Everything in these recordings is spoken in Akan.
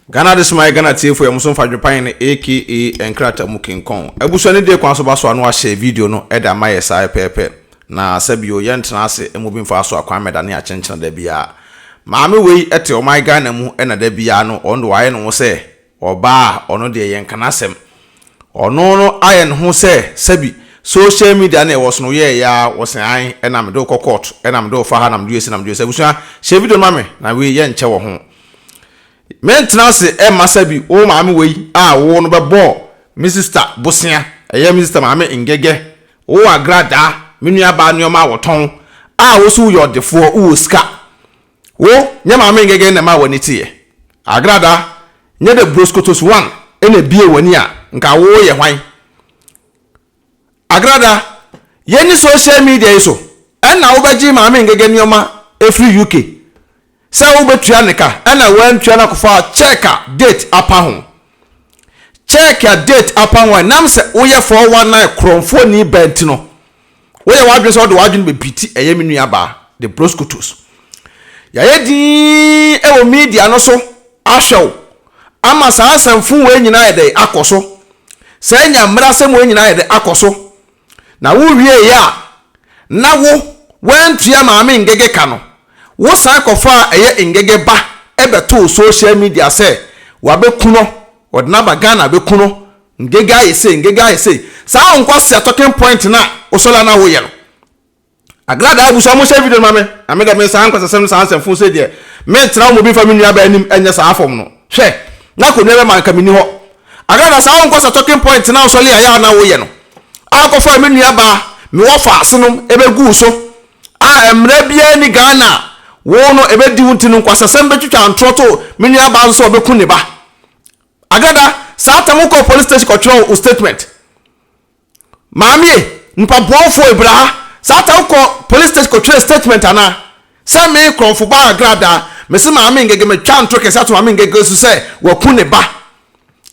Ghana Adesomaye Ghana tiefo yɛ mo so mfa dwopae no aka nkrataa mu kinkɔn. Abusua no die kwan so ba so a no ahyɛ video no de ama yɛ saa pɛpɛɛpɛ. Na sɛ bio yɛ ntena ase mo bi mfa so a kwan mɛda ne akyenkyena da biara. Maame wei te ɔman Ghana mu na da biara no ɔno de wayɛ ne ho sɛ ɔbaa a ɔno deɛ yɛnka n'asɛm. Ɔno no ayɛ ne ho sɛ sɛbi social media na ɛwɔ so no woyɛɛ ya ara wɔ se ae na mede wo kɔ court na mede wo fa ha na mede wo asi na mede wo asi abusua hyɛ video no ma me na wei yɛ nkyɛ wɔ ho mentena ase mma sɛbi wo maame wei a wowɔ no bɛbɔ me sister bosea ɛyɛ me sister maame ngɛgɛ wo agradaa me nua baa nnoɔma a wɔtɔn a wo so woyɛ ɔdefoɔ wowɔ sika Wo, nyɛ Maame Ngege na ɛmaa w'ani teeɛ? Agrada, nyɛ dɛ Broskotos Wan na ɛbuee w'ani a, nka wo yɛ hwan? Agrada, yɛnni social media yi so, ɛnna wobɛgye Maame Ngege nneɛma afiri UK sɛ wobɛtua ne ka, ɛnna woantua na kɔfaa cheque a date apa ho. Cheque a date apa ho a ɛnam sɛ woyɛ 419 korɔmfoɔni bɛn nti no, Woyɛ w'adwene sɛ wode w'adwene bɛpiriti ɛyɛ me nuabaa de broskotos. Yɛayɛ dinn wɔ media no so ahwɛ wo ama saa asɛmfo wei nyinaa ayɛ dɛn akɔ so, saa nya mmerɛ asɛm wei nyinaa ayɛ dɛn akɔ so, na wowieeɛ a na wo woantua Maame Ngege ka no, wosan kɔfaa ɛyɛ Ngege ba bɛtoo social media sɛ wabɛku no, wɔde no aba Ghana bɛku no. Ngege ayɛ sei, Ngege ayɛ sei. Saa Nkwasea talking point no a wosɔre a na woyɛ no, Agradaa abusua monhyɛ video no ma me, na me deɛ me saa nkwasasɛm no saa nsɛmfoo sei deɛ, mentena wo mu bi mfa me nuabaa anim nyɛ saa fam no. Hwɛ! Na akonnwa bɛma anka menni hɔ. Agradaa saa Nkwasea talking point no a wosɔre a yɛ a na woyɛ no, a wokɔfaa me nuabaa, me wɔfaase no bɛguu so, a mmara biara nni Ghana a wo no ɛbɛdi wo nti no, nkwasasɛm bɛtwitwa ntorɔ to me nuabaa nso sɛ ɔbɛku ne ba. Agada saa tam wo kɔɔ police station kɔ twerɛ wo statement maame e nipa boɔ foɔ ebra ha saa tam wo kɔ police station kɔ twerɛ statement ana sɛ me krɔnfo ba agrada me se maame ngege me twa ntoro kɛse ato maame ngege so sɛ waku ne ba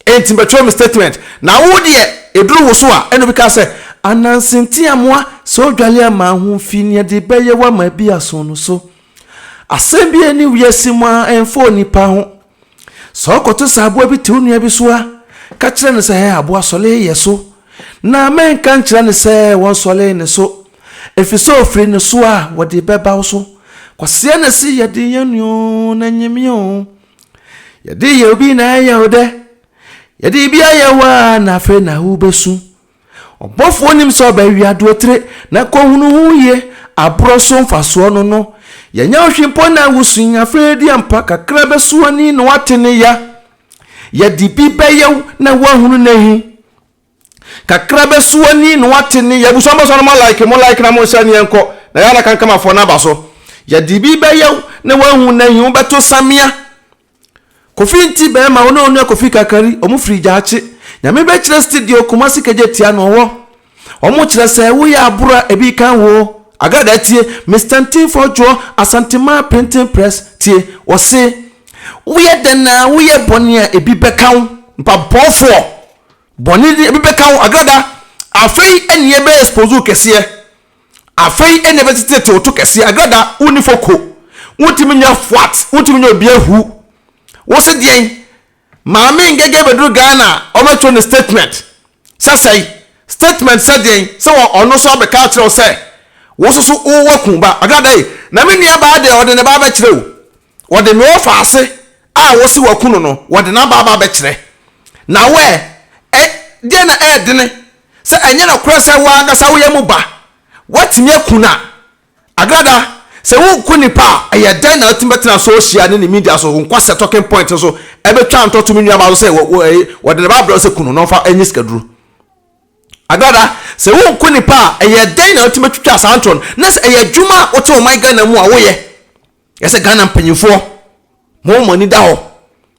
enti bɛ twerɛ me statement na wo deɛ eduru wo so a ɛna obi ka sɛ Ananse Ntiamoa sɛ odwale a ma ho mfi nea de bɛ yɛ wo ama bi aso no so asɛm bi ɛni wiase mu a ɛnfa onipa ho. Sɛ ɔkɔto sɛ aboa bi te wo nua bi so a, ka kyerɛ no sɛ, Hɛ, aboa sɔlee yɛ so, na menka nkyerɛ no sɛ wɔnsɔlee ne so, ɛfiri sɛ ɔfiri ne so a, wɔde bɛba wo so. Kwasea na ɛsi yɛ den yɛ nua oo, na ɛnyɛ me oo. Yɛde yɛ obi na ɛyɛ wo dɛ? Yɛde biribi ayɛ wo a, na afei na wobɛsu. Ɔbɔfoɔ nim sɛ ɔbɛ wia duotire na kɔ hunu ho yie aborɔ so mfasoɔ no no yɛnyɛ ɔhwe mpo na wo su nya fɛɛ di ampa kakra bɛ so ani na wate ne ya yɛ de bi bɛ yɛ wo na wo ahunu ne he kakra bɛ so ani na wate ne ya abusua bɔ so no mo like mo like na mo nhyɛ neɛ nkɔ na yɛ ana kankamafoɔ no aba so yɛ de bi bɛ yɛ wo na wo ahunu ne he wo bɛ to samia Kofi nti bɛɛma wo ne onua Kofi Kakari, ɔmo firi Gyaakye. Nyame bɛkyerɛ studio Kumasi kagya tia no ɔwɔ. Ɔmo kyerɛ sɛ wo yɛ aboro a ebi kan woo. Agradaa tie, Mister Ntimfoɔ Dwoɔ, Asanteman Printing Press tie, wɔse wo yɛ dɛn a wo yɛ bɔne a ebi bɛka wo. Mpaboɔfoɔ, bɔne ni ebi bɛka wo. Agradaa, afei ɛne yɛ bɛ expose wo kɛseɛ. Afei ɛnna ɛbɛteteete wo to kɛseɛ, agrada wonni foko, wontumi nyɛ fwat, wontumi nyɛ obi ahu. Wo se deɛn? Maame Ngege bɛduru Ghana a, wɔbɛkyerɛ no statement sɛ sɛn? Statement sɛ deɛn? Sɛ wɔ ɔno nso abɛka akyerɛ wo sɛ wo nso so wo waku ba. Agrada ei, na me nuabaa deɛ ɔde ne ba abɛkyerɛ o. Wɔde noɔfaase a wose waku no no wɔde no aba aba abɛkyerɛ na wo ɛ ɛ deɛ na ɛɛdene sɛ ɛnyɛ nɔkorɛ sɛ wo ankasa woyɛ mo ba woatumi aku no a agrada sɛ woku nnipa a ɛyɛ dɛn na atumi bɛtena sohyia ne ne media so nkwasɛ talking point nso ɛbɛtwa ntɔto me nuamaa so sɛ wɔ wɔ ɛyi wɔde ne ba abrɛ sɛ ku no na ɔmfa ɛnyɛ sikaduro agrada sɛ woku nnipa a ɛyɛ dɛn na atumi bɛtwitwa saa ntɔ no na sɛ ɛyɛ adwuma a wote ɔman Ghana mu a woyɛ Ɛsɛ Ghana mpanyinfoɔ mo wɔn ani da hɔ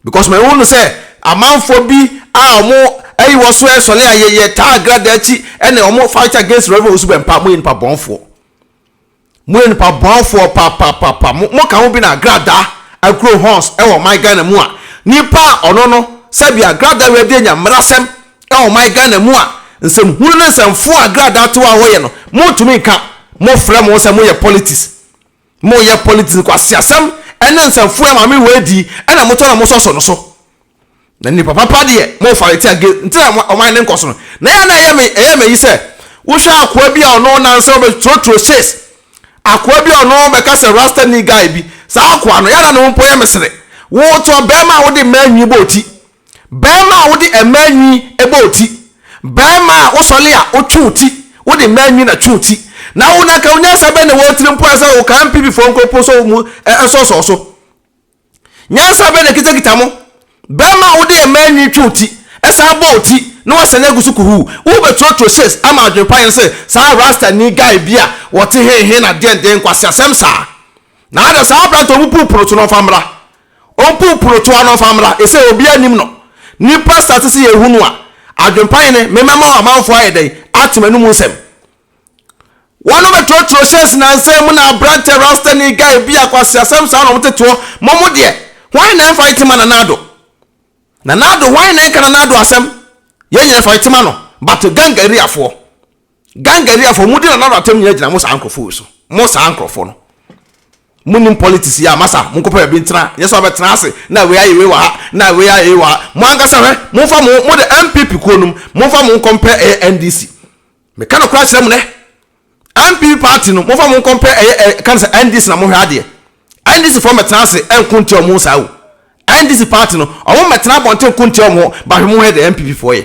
because mɛhu no sɛ amanfoɔ bi a wɔn ayi wɔ so ɛsɔle a yɛyɛ taa agrada akyi ɛna wɔn fight against Reverend Osu Bɛmpa mo yɛ nipa bɔnfoɔ mo yɛ nipa bɔnfoɔ paapaapaapa mo mo ka ho bi na agrada agro horns ɛwɔ ɔman Ghana mu a nipa a ɔno no sɛbi agrada wɛdi anya mmerasɛm ɛwɔ ɔman Ghana mu a nsɛm hunu ne nsɛmfoɔ a agrada atewa a wɔyɛ no mo ntumi nka mo frɛ mo sɛ mo yɛ politics Mo yɛ politics nkwaseasɛm ɛne nsɛmfua maame wei di ɛna mo tɔ na mo sɔsɔ no so na nipa papa deɛ mo fa reti age nti na ɔman ne nkɔso no na yɛ na ɛyɛ me ɛyɛ me yi sɛ wohwɛ akoa bi a ɔno nansa ɔbɛ trotro chase akoa bi a ɔno bɛka sɛ rasta ni guy bi saa akoa no yɛ na ne ho mpo yɛ me sere wotɔ bɛrima a wode mmaa nwi bɔ oti Barima a wode mmaa nwi bɔ wo ti, barima a wosɔre a wotwe wo ti, wode mmaa nwi na twe wo ti, na wo na ka wo nyansa bɛn na ɛwɔ wo tirim mpo ara sɛ wokaa Mpibifoɔ nkonko sɔ mu nsɔsɔɔ so? Nyansa bɛn na ɛkitakita mo? Barima a wode mmaa nwi twe wo ti, san bɔ wo ti, na woasane agu so kuhuu, worebɛturotuo hyes ama adwempa yere sɛ saa Rastani guy bi a ɔte hehe na deɛndeɛn nkwaseasɛm saa? Na ada saa aberante a ɔbubu pono so no ɔmfa mmra Ɔmpuw purotoa no mfa mmra, esiane obiara nnim no. Nnipa sa te sɛ yɛn hu no a, adwempa he ne, Memmɛma ɔmanfoɔ ayɛ dɛn ate m'anomu nsɛm? Wɔbɛtrɔtrɔ hyɛɛse nansa mu na aberanteɛ Rastani guy bi a kwaseasɛm saa na wɔtete hɔ, Mo mo deɛ, hwan na ɛmfa ntema Nana Addo? Nana Addo, hwan na ɛnka Nana Addo asɛm? Yɛn nyinaa fa ntema no, but gang areafoɔ. Gangaria foɔ mo di Nana Addo atem nyina gyina mo saa nkorɔfoɔ wei so mo saa nkorɔfoɔ no mo nim politics yɛ a masa mo nkɔpɛ baabi ntena nyɛ sɛ wabɛtena ase na wei ayɛ wei wɔ ha na wei ayɛ wei wɔ ha mo ankasa hwɛ mo nfa mo mo de NPP kuo nom mo nfa mo nkɔ mpɛ ɛyɛ NDC me ka nokora kyerɛ mo nɛ NPP party no mo nfa mo nkɔ mpɛ ɛyɛ ɛ ka ne sɛ NDC na mo hwɛ adeɛ NDC foɔ mɛtena ase ɛnko ntia ɔmo saa o NDC party no ɔmo mɛtena abɔnten nko ntia ɔmo ba hwɛ mo hwɛ de NPP foɔ yɛ.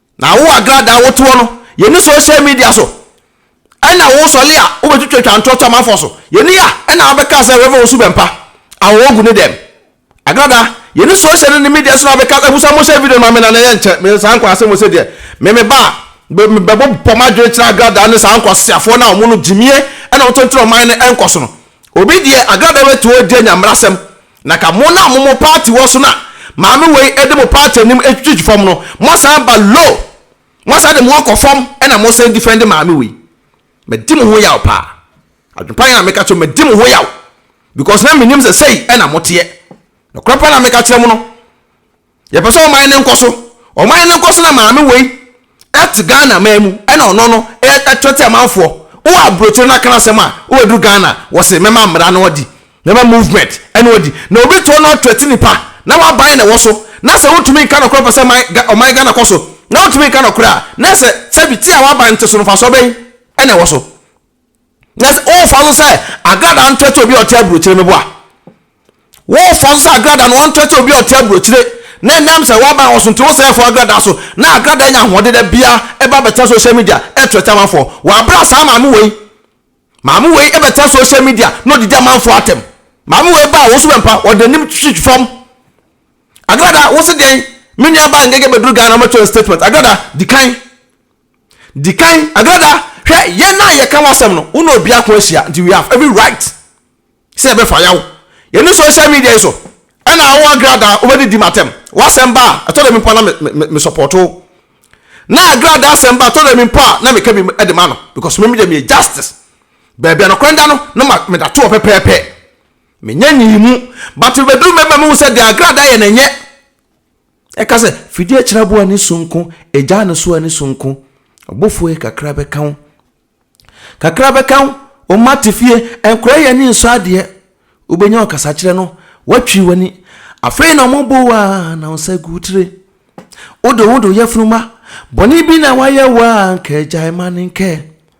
Na wo agradaa a wotoɔ no, yɛnni social media so. Ɛna wo sɔle a wobɛtwitwa twa ntorɔ to amanfoɔ so, yɛnni a. Ɛna wobɛkaa sɛ Rev. Owusu Bɛmpa, Awɔwɔ gu ne dɛm. Agradaa, yɛnni social ne ne media so na wobɛka abu sa mohyɛ video no ma me na na ɛyɛ nkyɛ me saa nkwadaa asɛm wɔ se deɛ me me ba a me me bɛbɔ bɔ m'adwene kyerɛ agradaa ne saa nkwaseafoɔ no a wɔn no gyimie na wɔtontoro ɔman no nkɔsono. Obi deɛ agradaa bɛtoo adi anya mmarasɛm. Na ka mo no a mo mo party wɔ so na maame wei de mo party anim twitwitwi fam no moasan ba low moasan de mo akɔ fam ɛna mosan defend maame wei madi mo ho yaw paa adwepa yɛ na meka kyerɛ mo madi mo ho yaw because na menim sɛ sɛi ɛna moteɛ nokorɛ paa na meka kyerɛ mo no Yɛpɛ sɛ ɔman no nkɔ so. Ɔman no nkɔ so na maame wei te Ghana man mu ɛna ɔno no ɛtwerɛ te amanfoɔ. Wowɔ aburokyire na kana asɛm a wobɛduru Ghana wɔse mɛma mmara no adi, mɛma movement ɛna ɔdi. Na obi to na ɔtwerɛ te nipa na waban na ɛwɔ so na sɛ wotumi nka nɔkorɛ wopɛ sɛ man ɔman Ghana kɔ so na wotumi nka nɔkorɛ a na ɛsɛ sɛbi te a waban te so no mfasoɔ bɛn ɛna ɛwɔ so? na sɛ worefa so sɛ agradaa no trɛtrɛ obi a ɔte aburokyire no bo a, worefa so sɛ agradaa no wɔntrɛtrɛ obi a ɔte aburokyire na ɛnam sɛ woaban wɔ so nti wosɛ ɛfɔ agradaa so na agradaa nya ahoɔden da bia ɛba bɛtena social media ɛtrɛtrɛ amanfoɔ wɔabra saa maame wei maame wei ɛbɛtena social media na ɔdidi amanfoɔ atɛm maame wei baa wo so bɛmpa ɔde anim twitwi fam agradaa wo se deɛn me nua baa ngege bɛduru Ghana mɛtɔ statement agradaa di kan Di kan, Agrada, hwɛ, yɛn a yɛka w'asɛm no, wo ne obi ako ahyia, nti we have every right sɛ yɛbɛfa yaw. Yɛne social media yi so, ɛna wo Agrada wobɛdidi m'atɛm. W'asɛm ba a, ɛtɔ da bi mpo a na me, me, me support wo. Na Agrada asɛm ba a, ɛtɔ da bi mpo a na meka bi de ma no, because me deɛ meyɛ justice. Baabi a nokorɛ da no, na ma, meda toɔ pɛpɛɛpɛ. Menyɛ nyii mu. But mebɛduru mɛma mehu sɛ deɛ Agrada yɛ no nyɛ. Ɛka sɛ, Fidie kyerɛboɔ ani sononko, agyaa no so ani sononko, ɔbɔfoɔ yi kakra bɛka wo, kakra bɛka wo, wo mma te fie, nkora yi ani nsɔ adeɛ, wobɛnya ɔkasakyerɛ no, woatwiri w'ani, afei na wɔbɔ wo a na wo nsa gu wo tire. Wode wo ho de wo yafunu ma, bɔne bi na wɔayɛ wo a anka agyae ma no nkɛ.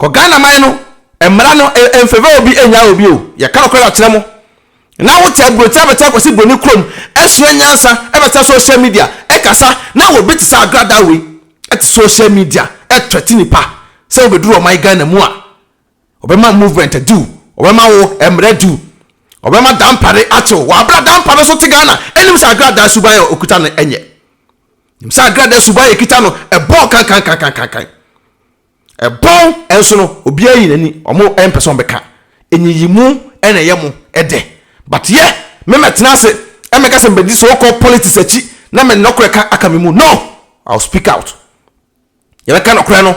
kɔ Ghana man no mmara no mfavor obi nyaa obi o yɛka nokorɛ akyerɛ mo na wote aburoti abɛtɛ akɔsi broni kurom asua nyansa ɛbɛsa social media ɛkasa na obi te sɛ agradaa wei ɛte social media ɛtrɛte nipa sɛ wobɛduru ɔman Ghana mu a ɔbɛma movement adiw ɔbɛma wo mmara adiw ɔbɛma dampare akyew wabra dampare so te Ghana ɛnim sɛ agradaa suban a okuta no ɛnyɛ nim sɛ agrada suban yɛ kita no ɛbɔn kankankankankan ɛbɔn ɛnso no obiara yi n'ani ɔmo ɛmpɛ sɛ ɔmo bɛka enyiyimu ɛna ɛyɛ mo ɛdɛ but yɛ mɛmɛtena ase ɛmɛka sɛ mbɛdi so kɔ politics akyi na mɛ nɔkorɛ ka aka me mu no i will speak out yɛbɛka nɔkorɛ no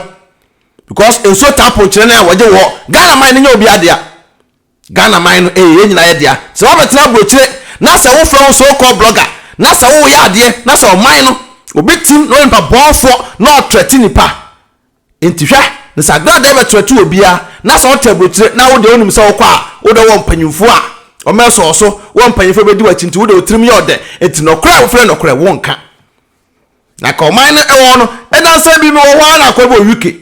because nsuo taa ponkyerɛ no a wɔgye wɔ ghana man no nyɛ obiara dea. Ghana man no ɛyɛ yɛn nyinaa yɛ dea. Sɛ wabɛtena aburokyire na sɛ wofrɛ wo so called blogger na sɛ woyɛ adeɛ na sɛ ɔman no obi tim na ɔyɛ nipa bɔɔfoɔ na ɔtrɛte nipa nti hwɛ na sɛ agradaa bɛtrɛte obiara na sɛ wote aburokyire na wodeɛ wonim sɛ wokɔ a wodɛ wɔ mpanyinfoɔ a wɔbɛsɔ wo so wɔ mpanyinfoɔ bɛdi wakyi nti wodɛ wotirim yɛ ɔdɛ nti nɔkorɛ a wofrɛ nɔkorɛ wonka na ka ɔman no ɛwɔ no ɛdansa bi mewɔ hɔ ara na akɔ ɛbɔ wiki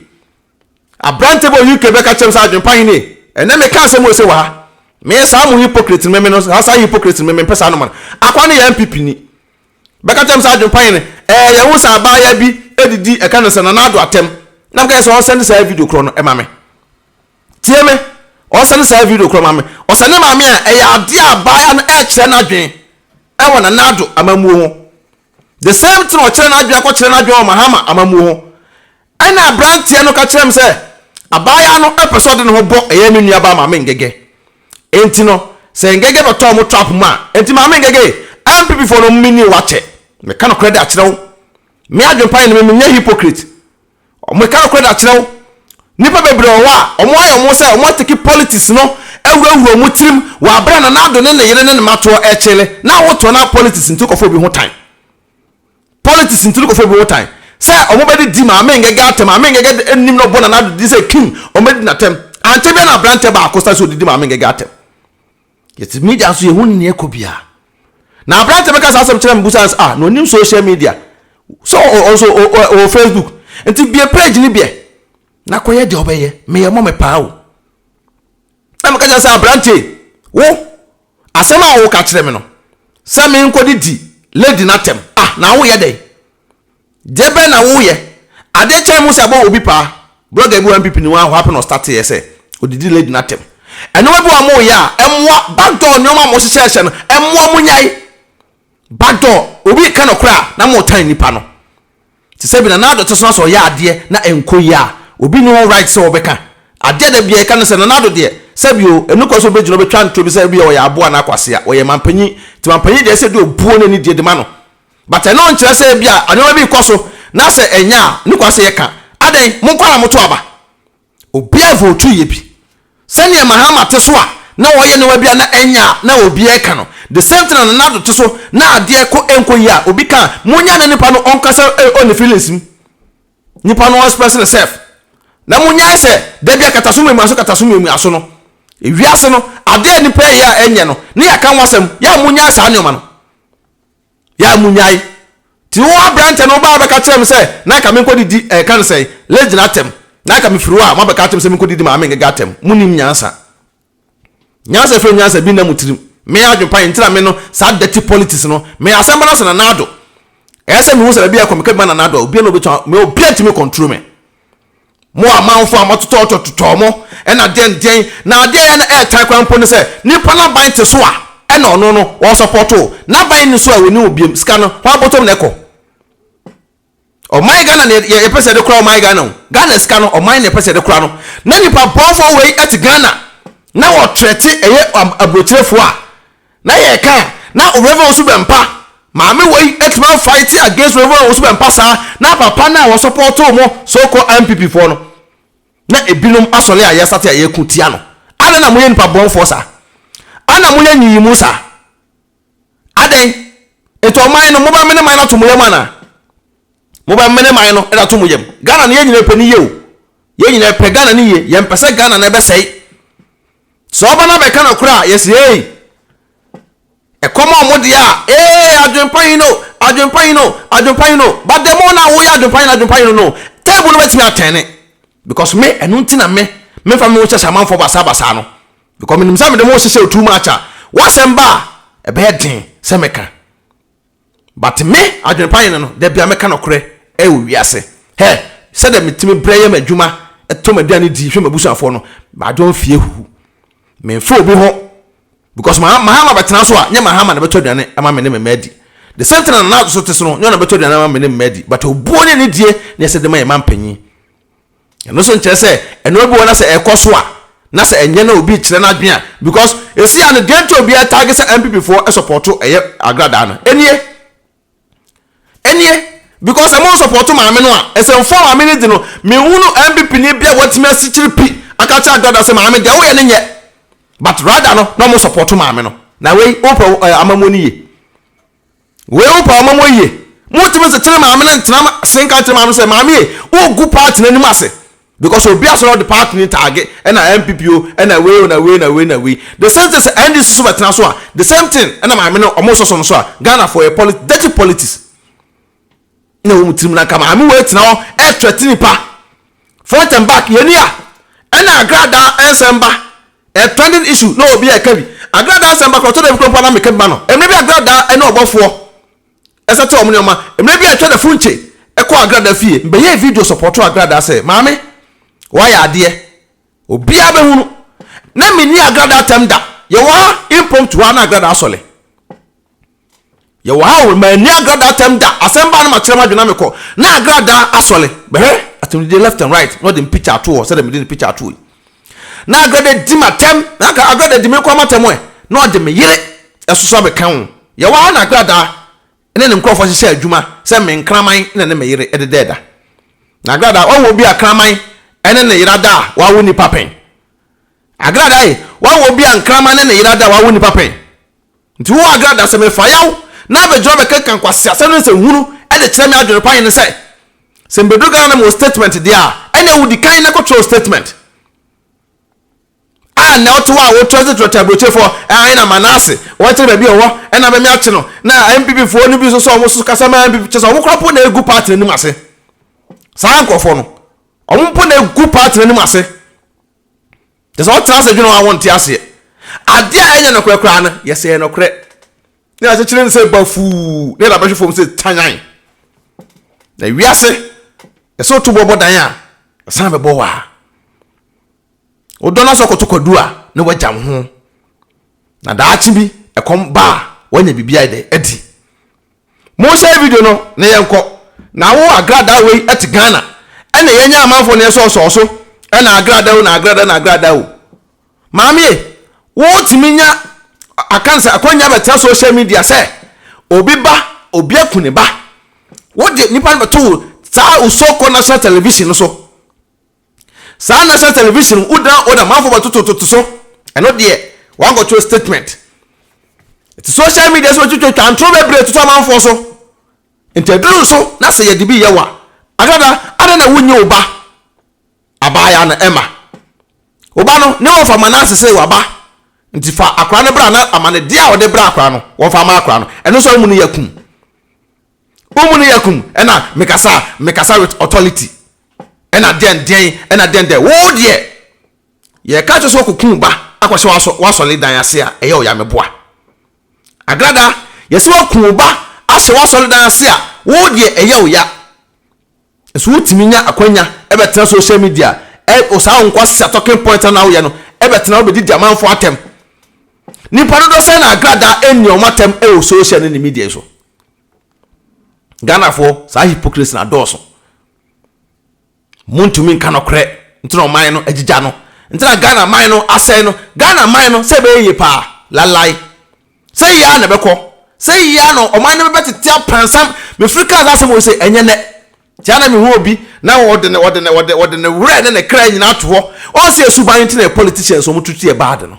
Aberante bi wɔ UK bɛka kyerɛɛ me sɛ, Adwempa he nie, ɛnnɛ mekaa asɛm wei se wɔ ha, Meyɛ saa mo hypocrite no, meme no, saa saa hypocrite no, me mempɛ saa nɔma no. Akoa no yɛ NPP ni. Bɛka kyerɛɛ me sɛ, Adwempa he no, ɛɛ, yɛahu sɛ abaayaa bi didi, ɛka no sɛ Nana Addo atɛm. Na meka sɛ, ɔnsɛnde saa video korɔ no ma me. Tie me, ɔnsɛnde saa video korɔ ma me. Ɔsɛnde maa me a, ɛyɛ adeɛ a abaayaa no ɛɛkyerɛ n'adwen ɛwɔ Nana Addo amammuo ho. The same thing ɔkyerɛ n'adwen akɔkyerɛ n'adwen wɔ Mahama amammuo ho. Ɛnna aberanteɛ no ka kyerɛɛ me sɛ, Abaayaa no pɛ sɛ ɔde ne ho bɔ ɛyɛ me nuabaa Maame Ngege. Enti no, sɛ Ngege bɛtɔ wɔn trap mu a, enti Maame Ngege, NPPfoɔ no, menni wo akyɛ. Meka nokorɛ de akyerɛ wo. Me adwempa ne me, menyɛ hypocrite. Meka nokorɛ de akyerɛ wo. Nnipa bebree wɔ hɔ a, wɔayɛ wɔn sɛ wɔatake politics no awurawura wɔn tirim wɔ aberɛ a Nana Addo ne ne yere ne ne mma toɔ rekyele na awotoɔ na politics nti wokɔfa obi ho tan. politics nti no kɔfɔ bi wotan sɛ ɔmo bɛde di maame ngɛgɛ atɛm maame ngɛgɛ de nim na ɔbɔ nanado din sɛ king ɔmo bɛdi n'atɛm ankyɛ bia na abrantɛ baako san sɛ ɔdidi maame ngɛgɛ atɛm yɛte media nso yɛhu nneɛ kɔ bia na abrantɛ bɛka saa asɛm kyerɛ me busa ah na ɔnim social media so ɔnso ɔwɔ facebook nti bie page ne biɛ na kɔyɛ deɛ ɔbɛyɛ meyɛ mɔ me paa o na meka kyerɛ sɛ abrantɛ wo Asɛm a woka kyerɛ me no, sɛ menkodidi lady no atɛm a, na woyɛ dɛn? Deɛ bɛn na woyɛ? Adeɛ kyɛn mo sɛ ɛbɔ obi paa. Blogger bi wɔ MPP no mu a, whappen na ɔstarteeɛ sɛ ɔdidi lady no atɛm. Nneɛma bi wɔ a moyɛ a, ɛmmoa. Backdoor nneɛma a mohyehyɛɛhyɛ no, ɛmmoa. Monyae backdoor. Obi reka nokorɛ a, na moretan nipa no. Te sɛ ebia Nana Addo te so na sɛ ɔyɛ adeɛ na ɛnkɔ yie a, obi nni ho right sɛ ɔbɛka. Adeɛ a da biara yɛka ne sɛ, Nana Addo deɛ, sɛbi o, ɛnni kwan sɛ ɔbɛgyina ɔbɛtwa ntorɔ bi sɛ ebia ɔyɛ aboa anaa kwasea. Ɔyɛ mampanyin, nti mampanyin deɛ ɛsɛ sɛ ɔde obuo ne anidie de ma no. But ɛno nkyerɛ sɛ ebia nneɛma bi rekɔ so na sɛ ɛnyɛ a, ɛnni kwan sɛ yɛka. Adɛn? Monkɔ ara na moto aba. Obiara votu yɛ bi. Sɛnea Mahama te so a na wɔyɛ no abia na ɛnyɛ a na obiara ɛka no. The same thing na Nana Addo te so na adeɛ kɔ ɛnkɔ yie a obi ka a monya ne nipa no ɔnkasa ɛwɔ ne feelings mu. Nipa no ɔnspɛse ne self. Na monyae sɛ da bi akataso mmiamiaso kataso mmiamiaso no wiase no adeɛ a nipa ɛyɛ a ɛnyɛ no ne yɛaka ho asɛm yɛ a monyae saa nneɛma no. Yɛa munnyae. Nti wo aberantɛ no wobaa bɛka kyerɛɛ me sɛ na anka menkɔdidi ɛɛ ka no sɛn, Legina atɛm. Na anka mefiri hɔ a moabɛka akyerɛ me sɛ menkɔdidi Maame Ngega atɛm. Monnim nyansa. Nyansa a ɛfiri nyansa bi nna mo tirim. Me adwene pa yɛ nti na me no saa dirty politics no. Me asɛm ba no sɛ Nana Addo. Ɛyɛ sɛ mehu sɛ baabi a ɛkɔ meka bi ma Nana Addo a obiara nni hɔ a obɛtumi, me obiara ntumi control me. Mo amanfo a moatotɔtotɔ totɔɔ mo, ɛna deɛn deɛn, na adeɛ a ɛyɛ no ɛɛtan koraa mpo ne sɛ, nipa no aban te so a, ɛna ɔno no, ɔɔsɔpɔtoo, n'aban nni so a, ɔnni hɔ biom, sika no, hɔ ara bɔtɔm na ɛkɔ. Ɔman Ghana na yɛ, yɛpɛ sɛ yɛde kora ɔman Ghana o, Ghana sika no, ɔman na yɛpɛ sɛ yɛde kora no, na nipa bɔnfoɔ wei ɛte Ghana, na ɔtrɛte ɛyɛ aburokyerɛfoɔ a, Na yɛka a na Rev Owusu Bɛmpa, maame wei atumi a fight against Rev Owusu Bɛmpa saa na papa no a wɔ support mo so called NPP foɔ no na ebinom asɔre a yɛsate a yɛko tia no adɛn na moyɛ nipa bɔnfoɔ saa ana moyɛ nyiyimu saa adɛn nti ɔman no mobɛ mene man no ato mo yam anaa mobɛ mene man no ɛda to mo yam Ghana no yɛn nyina pɛ ne yie o yɛn nyina pɛ Ghana ne yie yɛn pɛ sɛ Ghana no ɛbɛsɛe Sɛ ɔba na bɛka nokorɛ a, yɛse eei! Ɛkɔm a wɔde a, eei, adwenpa yi no, adwenpa yi no, adwenpa yi no, but the more no a woyɛ adwenpa yi no, adwenpa yi no no, table no bɛtumi atɛne. Because me, ɛno nti na me, memfa me ho nhyɛhyɛ amanfoɔ basaa basaa no. Because menim sɛ mede me ho hyehyɛ wo too much a, w'asɛm ba a, ɛbɛyɛ den sɛ mɛka. But me adwene pa yɛ ne no da bia mɛka nɔkorɛ wɔ wiase hɛ sɛdɛ metumi brɛ yɛ m'adwuma tɔ m'aduane di hwɛ m'abusuafoɔ no m'adwon fie huhu menfa obi ho because mahama bɛtena so a nyɛ mahama na bɛtɔ aduane ama me ne me mma adi the same thing na nana adwoso te so no nyɛ ɔna bɛtɔ aduane ama me ne me mma adi but obuo ne anidie na yɛsɛ de ma yɛ mampanyin Ɛno nso nkyerɛ sɛ ɛnoa bi wɔ na sɛ ɛkɔ so a na sɛ ɛnyɛ na obi kyerɛ n'adwene a because ɛsi a no deɛ nti obi ɛtaage sɛ NPP foɔ sɔpɔto ɛyɛ agradaa no ɛnie ɛnie because ɛmo nsɔpɔto maame no a ɛsɛ mfoɔ maame no di no menhunu NPP ni bi a wɔatumi asikyiri pi aka kyerɛ agradaa sɛ maame deɛ woyɛ no nyɛ but rather no na ɔmo sɔpɔto maame no na wei wopɛ amamuo no yie. Wei wo paa ɔma mo yie. Mo tumi se kyere maame no ntena se nka nkyere maame no sɛ maame e wo gu party no anim ase because obi asɔre ɔde party no taage ɛna NPP o ɛna wei o na wei na wei na wei the same thing sɛ NDC so bɛtena so a the same thing ɛna maame no ɔmo sɔ so no so a Ghana foɔ yɛ polit dirty politics. na ɛwɔ mo tirim na nka maame wei tena hɔ ɛretrɛte nipa front and back yɛni a ɛna agradaa ɛnsɛn ba ɛ trending issue na obi ɛka bi agradaa nsɛn ba kɔtɔ dɛbi kurompa na meka bi ma no mmerɛ bi agradaa ɛne ɔbɔfoɔ ɛsɛte wɔn nneɛma mmerɛ bi ɛtwa da funkye ɛkɔ agradaa fie mbɛyɛ video sɔpɔtɔ agradaa sɛ maame wayɛ adeɛ obiara bɛhunu na menni agradaa tɛm da yɛwɔ ha impromptu ha na agradaa asɔle Yɛwɔ ha o, manni agradaa tɛm da, asɛm baa na makyerɛ m'adwene na mekɔ, na agradaa asɔle, mɛhwɛ asɛmdidie left and right na ɔde me picture ato hɔ sɛdeɛ mede ne picture ato hɔ yi. Na agradaa di m'atɛm, na anka agradaa di me koraa m'atɛm ɛ, na ɔde me yere nso abɛka ho. Yɛwɔ ha na agradaa ne ne nkorɔfoɔ hyehyɛ adwuma sɛ me nkraman na ne me yere de da ɛda. Na agradaa wahu obi a kraman ne ne yera da a wawo nipa pɛn? Agradaa e, wahu obi a nkraman ne ne yera da a wawo nipa pɛn? Nti wo Agra da sɛ mefa yaw na abɛgyina hɔ abɛkenkan nkwaseasɛm ne nsɛnhunu de kyerɛ me adwene pa yɛ ne sɛ, sɛ mebɛduru Ghana na mewɔ statement deɛ a, ɛneɛ wo dikan na kɔtwerɛ wo statement. A nnɛ wote hɔ a wotrɛ se trɛtrɛ aburokyerefoɔ, ae na Manasse, wɔnkyerɛ baabi a ɔwɔ, ɛna bɛme akye no, na NPP foɔ no bi nso sɛ wɔn nso kasa ma NPP, kyerɛ sɛ wɔn koraa mpo na ɛgu party no anim ase. Saa nkorɔfoɔ no, wɔn mpo na ɛgu party no anim ase. Te sɛ ɔtena ase dwene ho a wonte aseɛ. Adeɛ a ɛnyɛ nokorɛ koraa no, yɛsɛ ɛyɛ nokorɛ. Ne akyekyere no sɛ bafuu, ne yɛde abɛhwe fam sɛ tanyan. Na wiase, yɛsɛ woto boɔ bɔ dan a, ɛsan bɛbɔ wo a. Wodɔ no asɔ kɔtɔkwadu a, na woagyam ho. na daakye bi ɛkɔm ba a wanya biribi ayɛ dɛ adi monhyɛ video no na yɛnkɔ na wo agradaa wei ɛte Ghana ɛna yɛnyɛ amanfoɔ na yɛsɔɔsɔɔ so ɛna agradaa o na agradaa na agradaa o maame wotumi nya akansa akwanya bɛtena social media sɛ obi ba obi aku ne ba wode nipa no bɛto saa usoko national television no so Saa national television no wo dan owner manfo bɛtoto toto so ɛno deɛ wan kɔ kyerɛ statement ɛti social media so twitwa twa ntoro bebree toto amanfoɔ so nti ɛduru so na sɛ yɛde bi yɛ wa adada adɛ na wonyi wo ba abaaya na ɛma wo ba no ne wɔfa ma no asese waba nti fa akora no bra na ama ne deɛ a wɔde bra akora no wɔfa ma akora no ɛno nso amu no yɛ kum Wo mu no yɛ komm na mekasa a mekasa with authority na deɛn deɛn na deɛn deɛn wo deɛ yɛka kyerɛ sɛ ɔkɔku wo ba akɔhyɛ w'asɔ w'asɔre dan ase a ɛyɛ ɔya meboa Agrada yɛsɛ waku wo ba ahyɛ w'asɔre dan ase a wo deɛ ɛyɛ ɔya So wotumi nya akwanya bɛtena social media a wɔ saa wo nkwasea talking point a na woyɛ no bɛtena hɔ bɛdidi amanfoɔ atɛm? Nnipa dodoɔ sɛn na agradaa anni wɔn atɛm wɔ social ne ne media yi so? Ghanafoɔ saa hypocrisy no adɔɔso. Montumi nka nɔkorɛ nti na ɔman no agyigya no nti na Ghana man no asɛe no. Ghana man no sɛ ɛbɛyɛ yie paa lalae. Sɛ eyi ara na ɛbɛkɔ, sɛ eyi ara na ɔman no bɛbɛ tete apansam, mefiri kaa saa asɛm wei sɛ, ɛnyɛ nnɛ. Nti ara na mehu obi na ɔde ne, ɔde ne, ɔde, ɔde ne werɛ ne ne kra nyinaa ato hɔ. Ɔn sɛ yɛ suban no nti na yɛ politicians a wɔtutu yɛ bad no.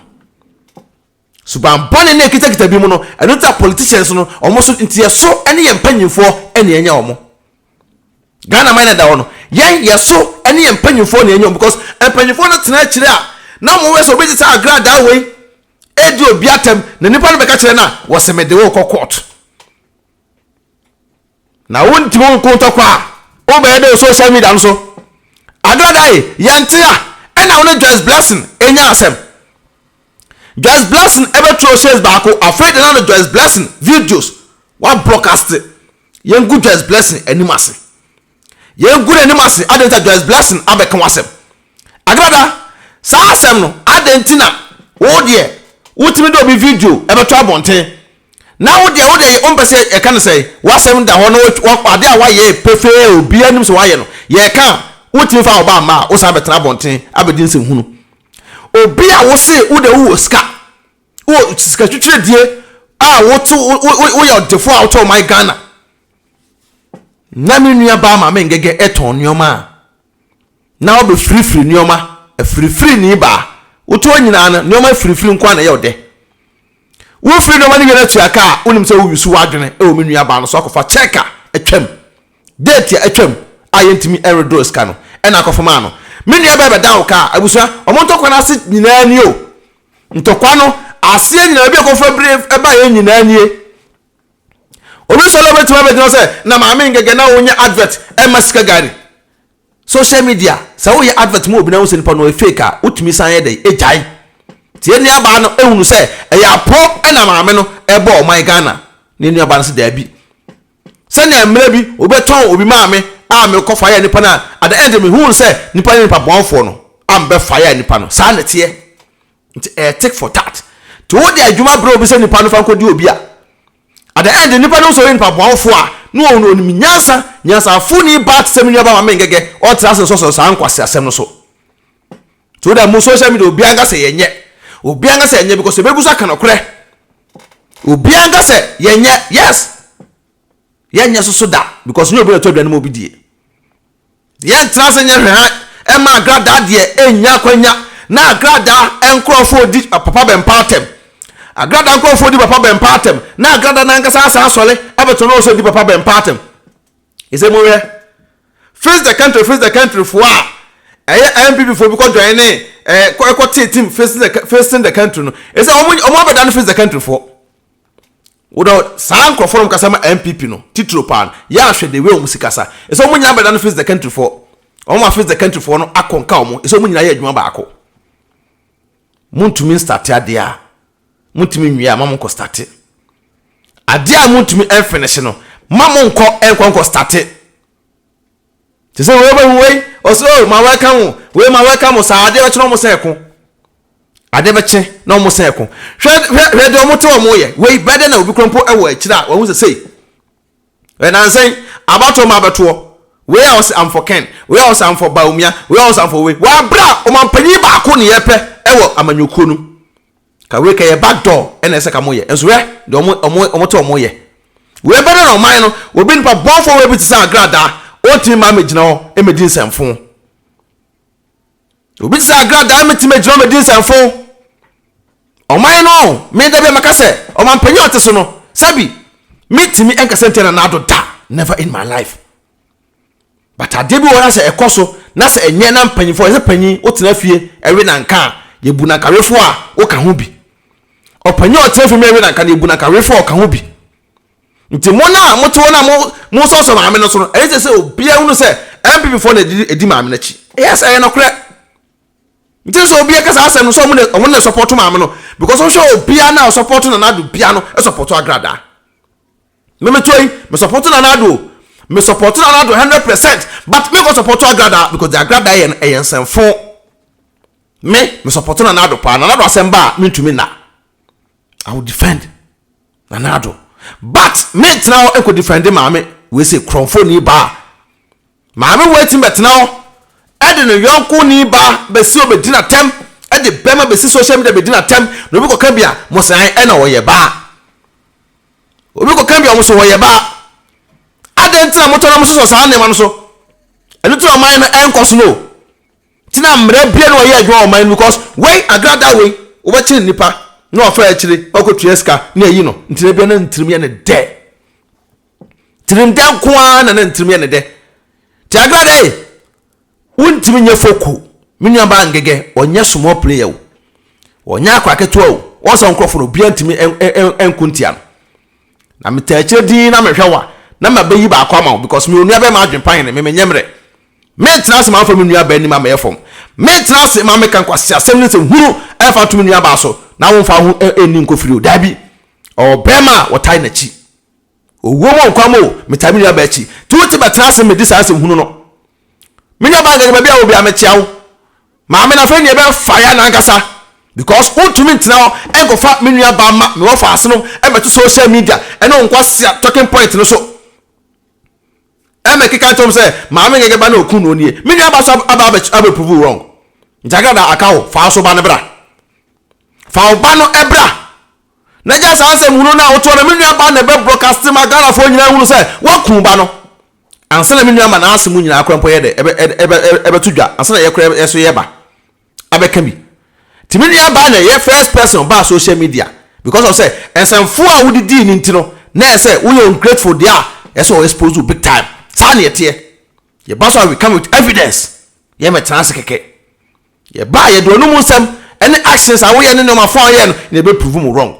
Suban bɔne no a ɛkitakita binom no, ɛno nti na politicians no, wɔn so, nti yɛ so ne yɛ mpanyimfoɔ na yɛanya wɔn. Ghana man a ɛda hɔ no, yɛn, yɛ so ne yɛ mpanyimfoɔ na yɛanya wɔn because mpanyimfoɔ no tena akyire a, na wɔn werɛ sɛ obi de saa agradaa wei redi obi atɛm na nipa no bɛka kyerɛ no a wɔsɛ mede wo kɔ court na wontumi nko ntɔkwa a wobɛyɛ dɛ social media no so agradae yɛnte a ɛna wo ne Joyce Blessing ɛnya asɛm Joyce Blessing ɛbɛtwerɛ shares baako afei de na no Joyce Blessing videos wa broadcast yɛngu Joyce Blessing anim ase Yɛngu n'anim ase, adɛn nti na Joyce Blessing abɛka w'asɛm? Agrada, saa asɛm no, adɛn nti na wo deɛ wotumi de obi video ɛbɛto abɔnten, na wo deɛ wo deɛ yɛ wompɛ sɛ yɛka no sɛe? W'asɛm da hɔ na adeɛ a woayɛ pefee a obiara nim sɛ woayɛ no, yɛka a, wotumi fa wo ba mma a, wosan bɛtena abɔnten abɛdi nsɛnhunu. Obi a wo se wo deɛ wowɔ sika, wowɔ sika twitwiredie a wote, woyɛ ɔdefoɔ a wote ɔman Ghana, na me nua baa ma mengege ɛtɔn nneɛma a na ɔbɛ firifiri nneɛma afirifiri ni baa wotu hɔ nyinaa no nneɛma afirifiri nko na ɛyɛ ɔdɛ wofiri nneɛma no wie no atua ka a wonim sɛ woyusu w'adwene ɛwɔ me nua baa no so akɔfa kyɛk a atwam date a atwam a yɛntumi ɛredoro sika no ɛna akɔfa maa no me nua bɛɛ bɛda wo ka a abusua ɔmo ntɔkwa no ase nyinaa ni o ntɔkwa no aseɛ nyinaa bi akɔfa bire ɛba yɛ nyinaa nie Obi nso na obetumi abɛgyina hɔ sɛ, na maame ngɛgɛ na ɔnyɛ advert ɛma sika gari. Social media, sɛ woyɛ advert ma obi na wohu sɛ nipa no ɔyɛ fake a, wotumi san yɛ dɛn? Egyae. Nti yɛn nuabaa no ehunu sɛ ɛyɛ aporɔw na maame no ɛrebɔ ɔman Ghana. Na yɛn nuabaa no sɛ daabi. Sɛnea mmerɛ bi obi bɛtɔn obi maa me a mekɔ fa yɛɛ nipa no a, at the end mehuu sɛ nipa no yɛ nipa bɔnfoɔ no a mebɛfa yɛɛ nipa no. Saa na ɛteɛ. Nti ɛyɛ tick for tat. Nti wo de adwuma brɛ obi sɛ nipa no fa nkɔ di obi a, at the end nipa no sɛ ɔyɛ nipa boawofo a, na ɔwɔ onim nyansa, nyansafo ni ba te sɛ me nua ba Maame Ngɛgɛ, ɔntra ase nsɔsɔ saa nkwaseasɛm no so. Nti wo da mu social media obiara nka sɛ yɛnyɛ, obiara nka sɛ yɛnyɛ because yɛbɛgu so aka nokorɛ. Obiara nka sɛ yɛnyɛ, yes, yɛnyɛ so so da because nyɛ obi na ɛtɔ aduane ma obi die. Yɛntena ase nyɛ hwɛhan mma agradaa deɛ ɛnnya akwanya na agradaa nkorɔfoɔ di papa bɛmpa atɛm. Agradaa nkorɔfoɔ di papa bɛmpa atɛm na agradaa no ankasa asan asɔre abɛto no sɛ di papa bɛmpa atɛm. Ɛsɛ monhwɛ. Face the country face the country foɔ a ɛyɛ NPP foɔ bi kɔ join ne ɛɛ ɛkɔ tee team facing the facing the country no ɛsɛ wɔn wɔn abɛda no face the country foɔ. Wodɔ saa nkorɔfoɔ no ɔmo kasa ma NPP no titiro paa no yaa hwɛ the way ɔmo si kasa ɛsɛ ɔmo nyinaa bɛdane face the country foɔ ɔmo ma face the country foɔ no akɔ nka ɔmo ɛsɛ ɔmo nyinaa yɛ adwuma baako montumi nstate adeɛ a montumi nwie a ma monkɔ state adeɛ a montumi ɛnfinishe no ma monkɔ ɛnkɔ nkɔ state te sɛ wei bɛhu wei ɔsɛ o oh, ma wɔka ho wei ma wɔka mo saa adeɛ bɛkye na wɔn sɛ ɛko adeɛ bɛkye na wɔn sɛ ɛko hwɛ hwɛ hwɛ deɛ wɔn te wɔn yɛ wei bɛɛ dɛ na obi kura mpo wɔ akyire a wɔn sɛ sei ɛnansɛn abatoɔ ma abɛtoɔ wei a ɔsɛ amfɔ kɛn wei a ɔsɛ amfɔ baomia wei a ɔsɛ amfɔ wei wɔabra ɔmanpanyin baako ne yɛpɛ ɛwɔ amanyɔkuo no Ka wei ka yɛ back door ɛna ɛsɛ ka mo yɛ nso hwɛ deɛ ɔmo ɔmo ɔmo te ɔmo yɛ wei bɛdɛ na ɔman no obi nipa bɔnfoɔ wei bi te sɛ agradaa ɔntumi ma ama gyina hɔ ɛmɛ di nsɛmfo obi te sɛ agradaa ɛmɛ tumi gyina hɔ ɛmɛ di nsɛmfo ɔman no me da bi a maka sɛ ɔmanpanyin a ɔte so no sɛbi me tumi ɛnkasa ntia na n'ado da never in my life but adeɛ bi wɔ hɔ na sɛ ɛkɔ so na sɛ ɛnyɛ na mpanyinfoɔ yɛsɛ panyin wotena fie ɛwe nanka a yɛbu nanka wefoɔ a woka ho bi ɔpanyin a ɔtena fie mmerɛ ɛwe nanka no yɛbu nanka wefoɔ a ɔka ho bi nti mo no a mote hɔ no a mo mo sɔsɔ maame no so no ɛyɛ sɛ obiara hunu sɛ NPP foɔ na ɛdi ɛdi maame no akyi yes ɛyɛ nokorɛ nti sɛ obiara kasa asɛm no sɛ ɔmo na ɔmo na support maame no because wohwɛ obiara na ɔsupport Nana Addo biara no support Agradaa. Me me to yi me support Nana Addo o me support Nana Addo hundred percent but me nkɔ support Agradaa because the Agradaa yɛ no ɛyɛ nsɛmfo me me support Nana Addo paa Nana Addo asɛm ba a me ntumi nna I will defend Nana Addo but me ntena hɔ nkɔ defend maame wei sɛ kurɔnfo ni baa Maame wei tumi bɛtena hɔ de ne yɔnko ni ba bɛsi hɔ bɛdi no atɛm, de bɛma bɛsi social media bɛdi no atɛm, na obi kɔka bi a, mo se ae ɛna ɔyɛ baa. Obi kɔka bi a, mo se ɔyɛ baa. Adɛn nti na motɔ na mososɔ saa nneɛma no so? Ɛno nti na ɔman no ɛnkɔ so no o. Nti na mmerɛ bia na ɔyɛ adwuma wɔ ɔman no because wei agrada wei wobɛkyere nipa na wafa akyire wakɔtua sika na ayi no nti na bia na ntirim yɛ no dɛ. Tirim dɛ nko ara na na ne tirim yɛ ne dɛ. Tiagra dɛ, Wontumi nyɛ foku, me nuabaa Ngege, ɔnyɛ small player o. Ɔnyɛ akwadaa ketewa o. Wɔn saa nkorɔfoɔ no, obiara ntumi nko ntia no. Na metaa akyire dinn na mehwɛ wo a, na mabɛyi baako ama wo because mewɔ nuabɛrima adwene pa hene, me menyɛ mmerɛ. Mentena ase ma wɔmfa me nuabaa anim ammɛyɛ fam. Mentena ase ma wɔmmɛka nkwaseasɛm ne nsɛmhunu mfa nto me nuabaa so na womfa wo ho nni nkɔfiri o. Dabi, ɔwɔ barima a ɔtae n'akyi. Owuo mu o nkwa mu o, metaa me nuabaa akyi. Nti wote bɛtena ase mmɛdi saa asɛm hunu no. Me nuabaa nkɛkɛ baabi a wowɔ biara mekyea wo. Maame no afei neɛ ɛbɛyɛ fire nankasa because wontumi ntena hɔ nkɔfa me nuabaa mma me wɔfaase no mmɛto social media ɛne wo nkwasea talking point no so ɛmmɛkeka nkyerɛ wɔn sɛ maame nkɛkɛ ba no a ɔku noɔ nie. Me nuabaa so aba abɛ prove wo wrong. Nti agradaa aka wo fa wo so ba no bra. Fa wo ba no bra Na gya saa asɛm hunu no a wotoɔ no me nua baa na ɛbɛ broadcast ma Ghana foɔ nyinaa hunu sɛ waku ba no ansa na me nua ma naase mu nyinaa kora mpo yɛ dɛ ɛbɛ ɛbɛ ɛbɛ to dwa ansa na yɛ kora yɛ so yɛ ba abɛka bi ti me nua baa na ɛyɛ first person ɔbaa social media because of sɛ nsɛmfoɔ a wode dii ne nti no na ɛyɛ sɛ woyɛ ungrateful deɛ a ɛsɛ wɔ expose big time saa na yɛteɛ yɛba so a we come with evidence yɛ mɛtena ase kɛkɛ Yɛbaa a yɛde w'anom nsɛm ne actions a woyɛ ne nneɛma fɔɔ a woyɛɛ no na yɛbɛ prove mo wrong.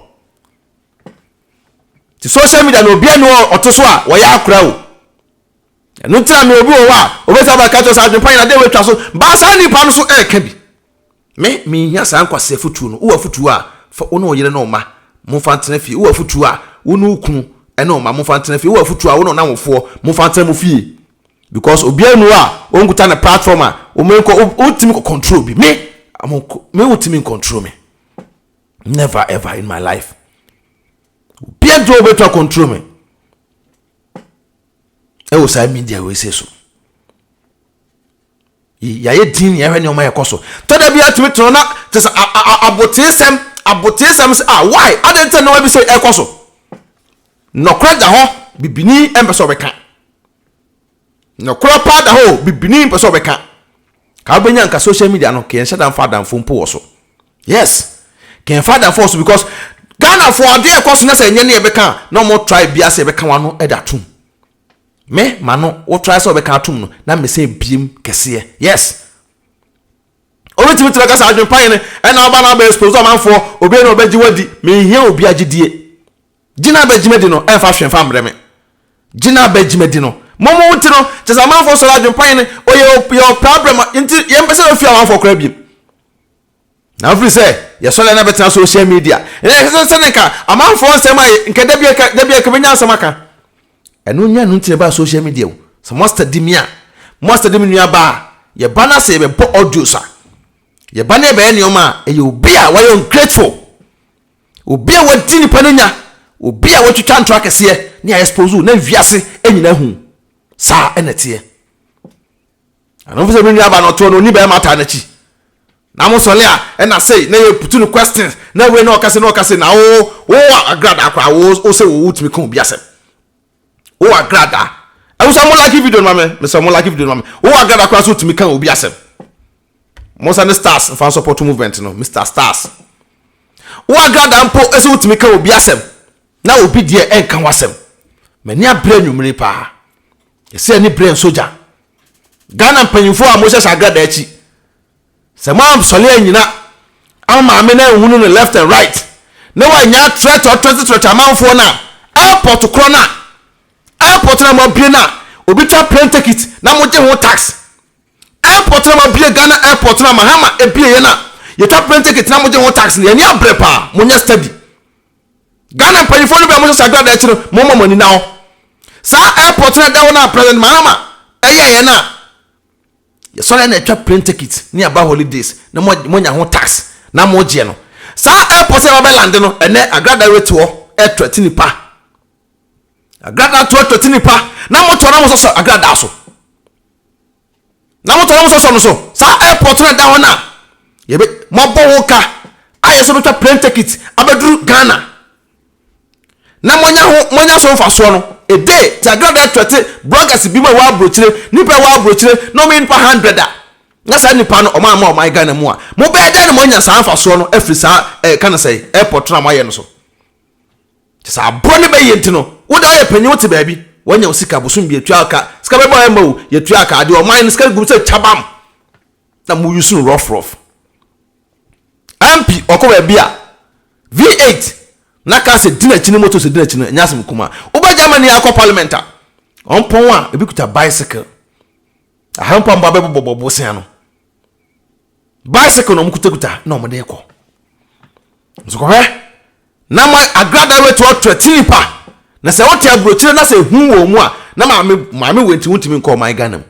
Ti social media na obi ɛne ɔto so a wɔyɛ akora o. Ɛno nti na me obi wɔ hɔ a obɛtumi aba ka kyerɛ sɛ adwempa nyina dɛ watwa so baa saa nipa no so ɛɛka bi. Me menhia saa nkwasi afutuo no. Wowɔ afutuo a fa wo ne wo yere ne wo mma momfa ntena fie. Wowɔ afutuo a wo ne wo kunu ɛne wo mma momfa ntena fie. Wowɔ afutuo a wo ne wo namfofoɔ momfa ntena mo fie. Because obiara nni hɔ a ɔnkuta ne platform a wɔnkɔ, wontumi nkɔ control bi. Me, me wontumi ncontrol me. Never ever in my life. Obiara nti wɔbɛtumi control me. Ɛwɔ saa media wei se so. Yɛayɛ dinn na yɛhwɛ nneɛma a ɛkɔ so. Tɔ da bi ara tumi tena hɔ na kyerɛ sɛ aboteesɛm, aboteesɛm sɛ ah why adɛn nti na nneɛma bi sɛ ɛkɔ so. Nɔkorɛ da hɔ bibini mpɛ sɛ ɔbɛka. Nɔkorɛ paa da hɔ o bibini mpɛ sɛ ɔbɛka. Ka wobɛnya nka social media no ka yɛnhyɛ da mfa adamfo mpo wɔ so. Yes ka yɛmfa adamfo wɔ so because Ghanafoɔ adeɛ ɛkɔ so na sɛ ɛnyɛ ne yɛbɛka a na wɔn try biara sɛ yɛbɛka wɔn ano de atom. Me ma no wo try sɛ ɔbɛka atom no na me sɛ biem kɛseɛ yes Obi tumi tumi kasa adwene pa yɛn ɛna ɔba na ɔbɛ expose ɔmanfoɔ obi ɛna ɔbɛ gye wadi me nhia obi agyedie gyina bɛ gyima di no ɛnfa hwɛ nfa mbrɛ me gyina bɛ gyima di no mo mo nti no kyɛ sɛ amanfoɔ sɔrɔ adwene pa yɛn ɔyɛ ɔpɛ abrɛ ma nti yɛn pɛ sɛ yɛn fi amanfoɔ koraa biem. Na ɔfiri sɛ yɛsɔre na bɛtena social media na yɛhwɛ sɛ sɛne nka amanfoɔ nsɛm a nka da bi a da bi a nka bɛnya nsɛm aka ɛno nya no nti na ɛbaa social media o sɛ moasta di me a moasta di me nua baa yɛba no sɛ yɛbɛbɔ audios a yɛba no yɛbɛyɛ nneɛma a ɛyɛ obi a wayɛ ungrateful obi a wadi nipa no nya obi a watwitwa ntorɔ akɛseɛ ne ayɛ sposo na wiase nyina hu saa ɛna teɛ Ɛno mfo sɛ me nua ba no ɔtoɔ no ɔni bɛɛma taa nakyi na mo sɔle a ɛna sei na yɛ putu no questions na wei na ɔka sei na ɔka sei na wo wo agradaa koraa wo wo sɛ wo wotumi ka obi asɛm wo agradaa ɛho sɛ mo like video no ma me mesɛ mo like video no ma me wo agradaa koraa sɛ wotumi ka obi asɛm mo sɛ ne stars mfa support movement no Mr Stars wo agradaa mpo ɛsɛ wotumi ka obi asɛm na obi deɛ ɛnka ho asɛm m'ani abrɛ nwummere paa Yɛsɛ ani bere nso gya. Ghana mpanyinfoɔ a mohyɛ sagrada akyi, sɛ moansɔre anyina ama maame no anhunu no left and right na wannya atrɛt ɔtrɛtetrɛt amanfoɔ no a, airport korɔ no a, airport no a moabue no a obi twa plane ticket na mogye ho tax, airport no a moabue Ghana airport no a Mahama ebieɛ no a yɛtwa plane ticket na mogye ho tax no, yɛn ani abere paa, monyɛ study. Ghana mpanyinfoɔ no bɛn mo sɛ saa gradaa akyi no mo ma mo ani nna hɔ. Saa airport no a ɛda hɔ no a President Mahama ɛyɛɛyɛ no a yɛsɔre na ɛtwa plane ticket ne aba holidays na mo mo nya ho tax na mo gyeɛ no. Saa airport a ɛbɛbɛ land no ɛnɛ agradaa wɛti hɔ ɛtwɛte nipa. Agradaa to ɛtwɛte nipa na mo to na mo sɔsɔ agradaa so. na motɔ na mosɔsɔ no so saa airport no a ɛda hɔ no a yɛbɛ mɔbɔ wo ka a yɛsɛ bɛtwa plane ticket abɛduru Ghana na monya ho monya so mfasoɔ no ɛde te agrada ɛtwɛte bloggers bi mu a ɛwɔ aburokyire nipa ɛwɔ aburokyire na ɔmo nipa hundred a na saa nipa no ɔmo ama ɔmo Ghana mu a mobɛyɛ dɛn na moanya saa mfasoɔ no afiri saa ɛɛ ka no sɛ airport no a moayɛ no so. Kyɛ sɛ aboa no bɛyɛ nti no, wo deɛ woyɛ panyin wote baabi, woanya wo sika, bosom bi yɛtua wo ka, sika bɛba a ɛmma o, yɛtua ka, adeɛ ɔman no sika gu mu sɛ kyabam na mo use no rough rough. MP ɔkɔ baabi a V8 na kaa sɛ di n'akyi ne moto sɛ di n'akyi no ɛnyɛ asɛm kumaa. Woba Germany akɔ parliament a, ɔmpɔn a ebi kuta bicycle. Aha mpo a mmoa bɛbobɔ bosea no. bicycle na wɔn kutakuta na wɔn de kɔ nsukɔhwɛ na ma agrada wei to ɔtɔ ti nipa na sɛ wote aburokyire na sɛ ehu wɔ mu a na maame maame wei nti wontumi nkɔ ɔman ghana mu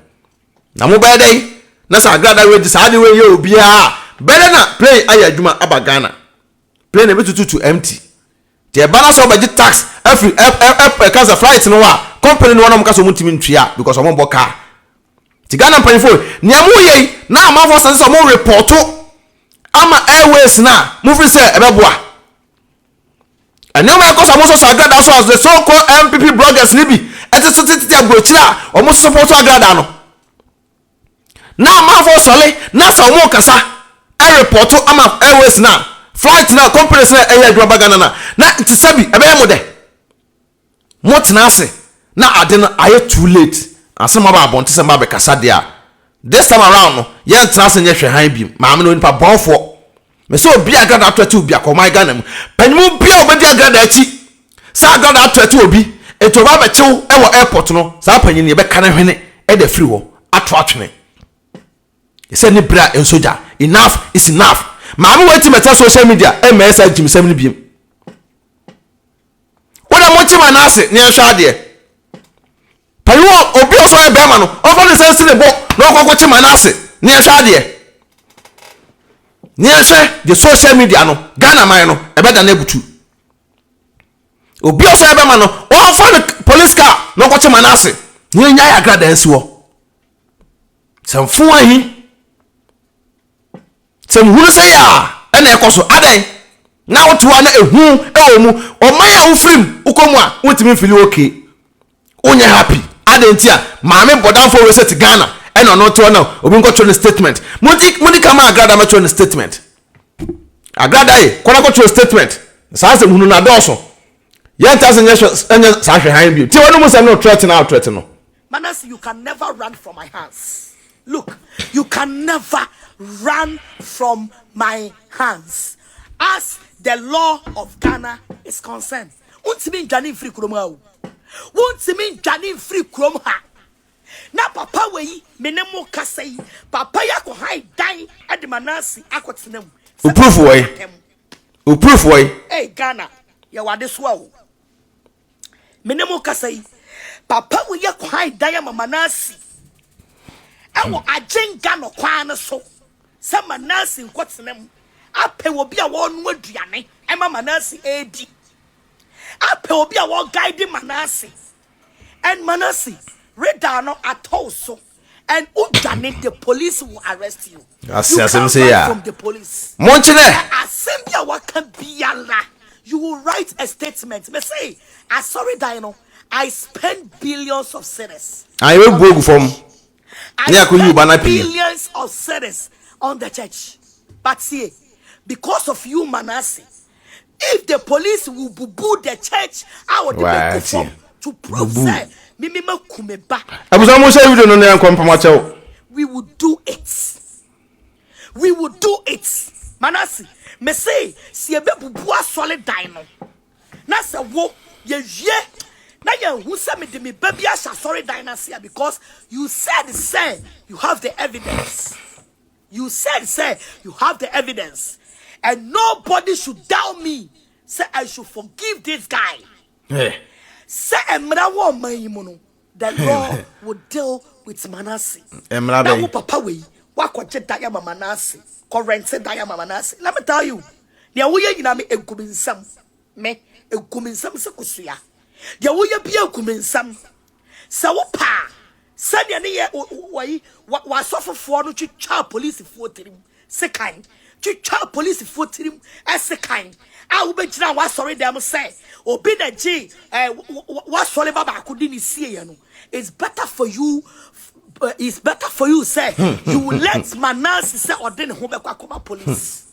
na mo bɛyɛ dɛ na sɛ agrada wei de saa de wei yɛ obiara bɛyɛ na plane ayɛ adwuma aba ghana plane ebi tututu empty Nti ɛba na sɛ wɔbɛgye tax afiri ɛ ɛ ɛ ɛka sɛ flight no a, company no ara na wɔka sɛ wɔntumi ntua because wɔmmɔ car. Nti Ghana mpanyinfoɔ, nea moreyɛ yi na amanfoɔ asase sɛ wɔn repɔɔto ama airways no a, mofiri sɛ ɛbɛboa. Nneɛma a ɛkɔ so a wɔsɔ sɔ agradaa so a the so called NPP bloggers no bi de so tetete aburokyire a wɔsosɔ pɔɔto agradaa no. Na amanfoɔ sɔre na sɛ wɔn kasa ɛrepɔto ama airways no a, flight no a, companies no a ɛyɛ adwuma ba Ghana no a, na te sɛ bi ɛbɛyɛ mo dɛ. Mo tena ase na ade no ayɛ too late ansa na mo aba abɔnten sɛ mo ba bɛkasa deɛ a, this time around no, yɛntena ase nyɛ hwɛhan bio, maame no onipa bɔnfoɔ. Mese obi a agradaa ato atiw biako, ɔman Ghana mu, panyinmu biara a ɔbɛdi agradaa akyi sɛ agradaa ato atiw obi nti ɔba abɛkyew wɔ airport no, saa panyin no yɛbɛka ne hwene de afiri hɔ ato atwene. Yɛsɛ ne bere a ɛnso gya. Enough is enough. Maame wei ti mɛtena social media mmɛyɛ saa gyimsɛm no biom. Wo na monkye ma no ase na yɛnhwɛ adeɛ. Paye wɔ obi a ɔsɛ ɔyɛ bɛrima no, ɔmfa ne nsa nsi ne bo na ɔkɔ akɔkye Manasseh. Ne yɛnhwɛ adeɛ. Ne yɛnhwɛ deɛ social media no, Ghana man no, ɛbɛda no abutu. Obi a ɔsɛ ɔyɛ bɛrima no, ɔmfa ne police car na ɔkɔkye Manasseh. Ne yɛnya yɛ agradaa nsi hɔ. Sɛ mfo ahi. Sɛ muhunu sɛ yea na ɛkɔ so, adɛn na wote hɔ na ehu wɔ mu? Ɔman a wofiri mu, wokɔ mu a, wontumi mfili ok, wonyɛ happy, adɛn ntia? Maame bɔdamfoɔ wei sɛ te Ghana na ɔno te hɔ na obi nkɔ twerɛ no statement, monti moni ka ma Agrada mɛtwerɛ no statement. Agrada ye, kɔ na kɔ twerɛ statement, saa nsɛm hunu no adɔɔso, yɛnte ase nyɛ saa hwɛ han bio, tie wɔnom nsɛm no threat no a wo threat no. Manasseh you can never run from my hands look you can never run from my hands as the law of Ghana is concerned wontumi ndwane mfiri kurom ha o wontumi ndwane mfiri kurom ha na papa wei me ne mo kasa yi papa yi akɔ han dan de Manasseh akɔ tena mu sɛ Uproof wɔe. Uproof wɔe. Hey Ghana yɛwɔ adesoa o me ne mo kasa yi papa wo yɛ kwan dan ama manase ɛwɔ hmm. agyenka no kwan no so sɛ manase nkɔtena mu apɛ obi a wɔno aduane ɛma manase ɛredi apɛ obi a wɔguide manase and manase reda no atɔw so and wo dwane the police will arrest you ase asɛm sɛ yɛ from the police monkyerɛ asɛm bi a waka biara you will write a statement me say asɔre dan no i spend billions of cedis ayɛ bɛ bu ogu fam ne akɔyi wo ba no apini billions of cedis on the church but see because of you manase If the police will bubu the church a ɔde bɛ gu fam to prove sɛ mimi ma ku me ba. Abusa mo sɛ video no ne nkɔ mpama kyɛw. We will do it. We will do it. Manasi, me se si ebe bubu asɔle dan no. Na sɛ wo ye wie na yɛ hu sɛ me de me ba bi ahyɛ asɔre dan na se because you said sɛ you have the evidence. You said sɛ you have the evidence and nobody should doubt me sɛ I should forgive this guy. Sɛ mmara wɔ ɔman yi mu no, the law will deal with Manase. Mmara bɛn? Na wo papa wei, wakɔgye dan ama Manase, kɔrɛnte dan ama Manase. Let me tell you, deɛ woyɛ nyinaa me egu me nsam, me egu me nsam sɛ kosua. Deɛ woyɛ bi egu me nsam. Sɛ wopɛ a, sɛdeɛ ne yɛ wɔyi w'asɔfofoɔ no twitwaa polisifoɔ tirim sekan, twitwaa polisifoɔ tirim sekan a wobɛgyina w'asɔre dɛm sɛ obi na gye eh, w'asɔre ba baako de ne sieɛ no, it's better for you uh, it's better for you sɛ hmm. you will let Manase sɛ ɔde ne ho bɛkɔ akɔma police. Hmm.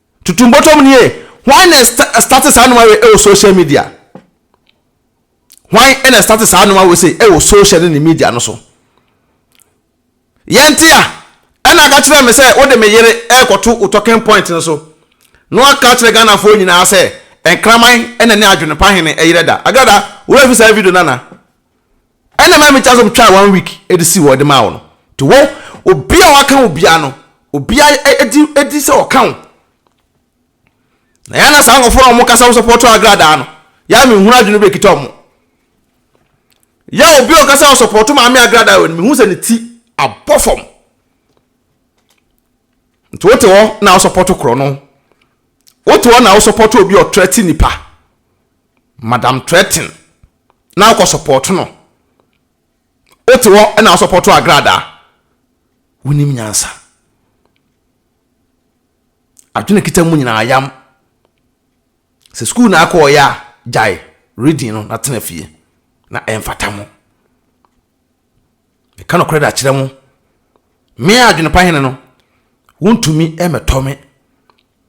Tutu mbɔtɔm nie, hwan na ɛstarte saa nnoɔma wei wɔ social media? Hwan na ɛstarte saa nnoɔma wei sei wɔ social ne ne media no so? Yɛnte a, ɛna aka kyerɛ me sɛ wode me yere ɛrekɔto wo talking point no so na waka akyerɛ Ghanafoɔ nyinaa sɛ nkraman na ne adwene pa hene ɛyerɛ da. Agrada, wo werɛ fi saa video no anaa? Ɛna mami twa so twaa one week ɛde si hɔ ɛde maa wo no ti wo obi a waka wo bia no obi a ɛdi ɛdi sɛ ɔka wo na yɛn na saa nkɔfo na wɔn kasa wɔn sɔpɔtɔ agradaa no yɛn mi nhun adwene bɛ kita wɔn yɛ obi a ɔkasa wɔn sɔpɔtɔ maame agradaa wɔ no mi hu sɛ ne ti abɔ fam nti wote hɔ na wɔsɔpɔtɔ korɔ no wote hɔ na wɔsɔpɔtɔ obi ɔtrɛ ti nipa Madam threaten na wokɔ support no wote hɔ na wo support agradaa wonim nyansa adwene kita mu nyinaa yam sɛ sukuu na akɔɔyɛ a gyae reading no na tena fie na ɛmfata mo Meka nokorɛ de akyerɛ mo, me a adwene pa Hene no, wontumi mmɛtɔ me.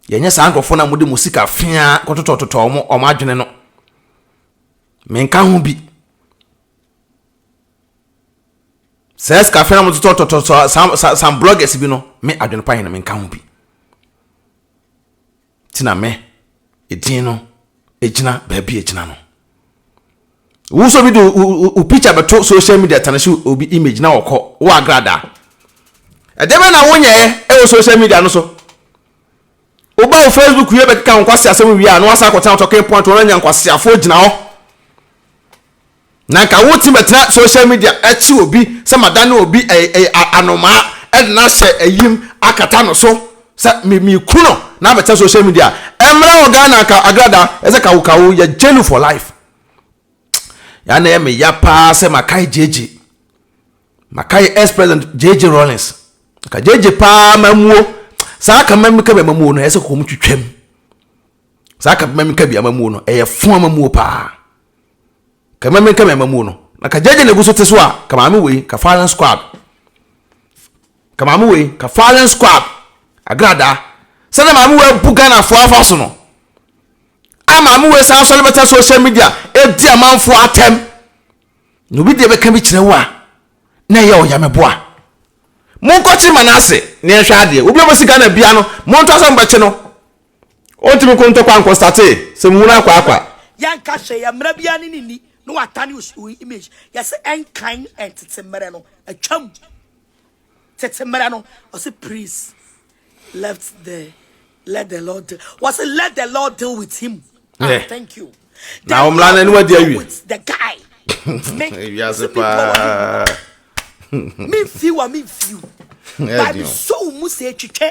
Yɛnyɛ saa nkurɔfoɔ no a mode mo sika feaa kɔtotɔtotɔ wɔn wɔn adwene no. Menka ho bi. Saa sika feaa na mototɔtotɔ saa saa saa bloggers bi no, me adwene pa Hene menka ho bi. nti na me edin no egyina baabi egyina no wo nso bi de wo picture bɛto social media tane so obi image na wɔkɔ wo agrada ɛdeɛ bɛ na wonyɛɛ ɛwɔ social media no so woba wo facebook wie bɛkeka wo nkwase asɛm wie a na wasa akɔtena talking point wɔn anya nkwaseafoɔ gyina hɔ Na nka wotumi bɛtena social media akyi obi sɛ madane obi anomaa ɛde no ahyɛ ayim akata no so sɛ meku no na abɛtena social media ɛmmra wɔ Ghana ka agrada ɛsɛ kawo kawo yɛ jailu for life ya na yɛ me ya paa sɛ makae gyegye makae ex president gyegye Rollins ka gyegye paa mamuo saa ka mmam ka bi amamuo no ɛsɛ kɔm twitwam saa ka mmam ka bi amamuo no ɛyɛ fo amamuo paa Ka mɛmɛ nka mɛ mamuo no na ka gyɛgyɛ na egu so te so a ka maame wei ka firing squad ka maame wei ka firing squad agradaa sɛdeɛ maame wei abu Ghanafoɔ afa so no a maame wei san sɔre bɛtɛ social media edi amanfoɔ atɛm na obi deɛ bɛka bi kyerɛ wo a na ɛyɛ ɔyameboa monkɔkye ma no ase ne ɛhwɛ adeɛ obi a ɔbɛsi Ghana bia no monto asɛ mobɛkye no Ontumi ko ntɔkwa nko startee sɛ muhunu akwa akwa. Yɛnka hwee yɛ mmara biara ne ne nni ne watane oyi image yɛse ɛnkan ɛntete mmerɛ no atwam tete mmerɛ no ɔse priest left the let the lord deal wɔse let the lord deal with him ah thank you na ɔmmra na ne wadi awie with the guy me wiase paa me fi wa me fi ba bi so mu se twitwe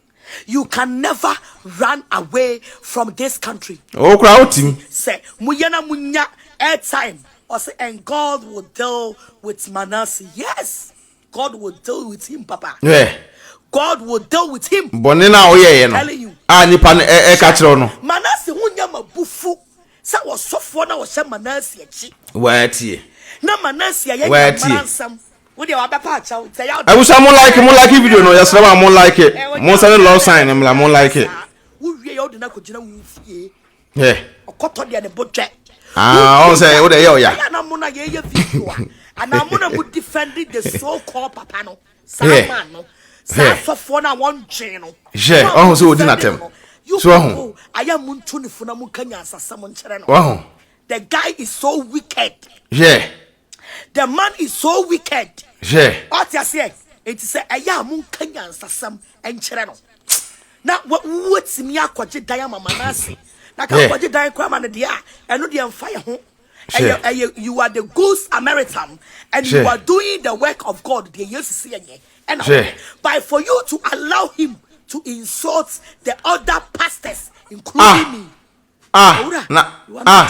You can never run away from this country. Oh, kura o ti. Sɛ mo yɛ na mo nya airtime. Ɔsɛ and God will deal with Manasseh. Yes, God will deal with him, Papa. Hwɛ. God will deal with him. Bɔne na ɔyɛ yɛ no. A nipa no ɛka kyerɛw no. Manasseh ho nya ma bufu sɛ ɔsɔfoɔ na ɔhyɛ Manasseh akyi. Wɔatie. Na Manasseh ayɛ nyamara nsɛm. abusua mo like mo like video no yɛsrɛ ma mo like mo nsa ne love sign mmra mo like yɛ ɔn sɛ wode ɛyɛ ɔya hwɛ ɔho sɛ ɔdi natɛm so ɔho ɔho the guy is so wicked hwɛ The man is so wicked. Hwɛ. Ɔte aseɛ. Enti sɛ ɛyɛ a monka nyansasɛm nkyerɛ no. Na wɔatumi akɔgye dan ama Manase. Na ka kɔgye dan koraa ma no deɛ a, ɛno deɛ mfa yɛ ho. Ɛyɛ ɛyɛ you are the good Samaritan and you are doing the work of God deɛ Yesu si yɛnyɛ ɛna wɔyɛ. By for you to allow him to insult the other pastors including me. Ah, ah, na, ah.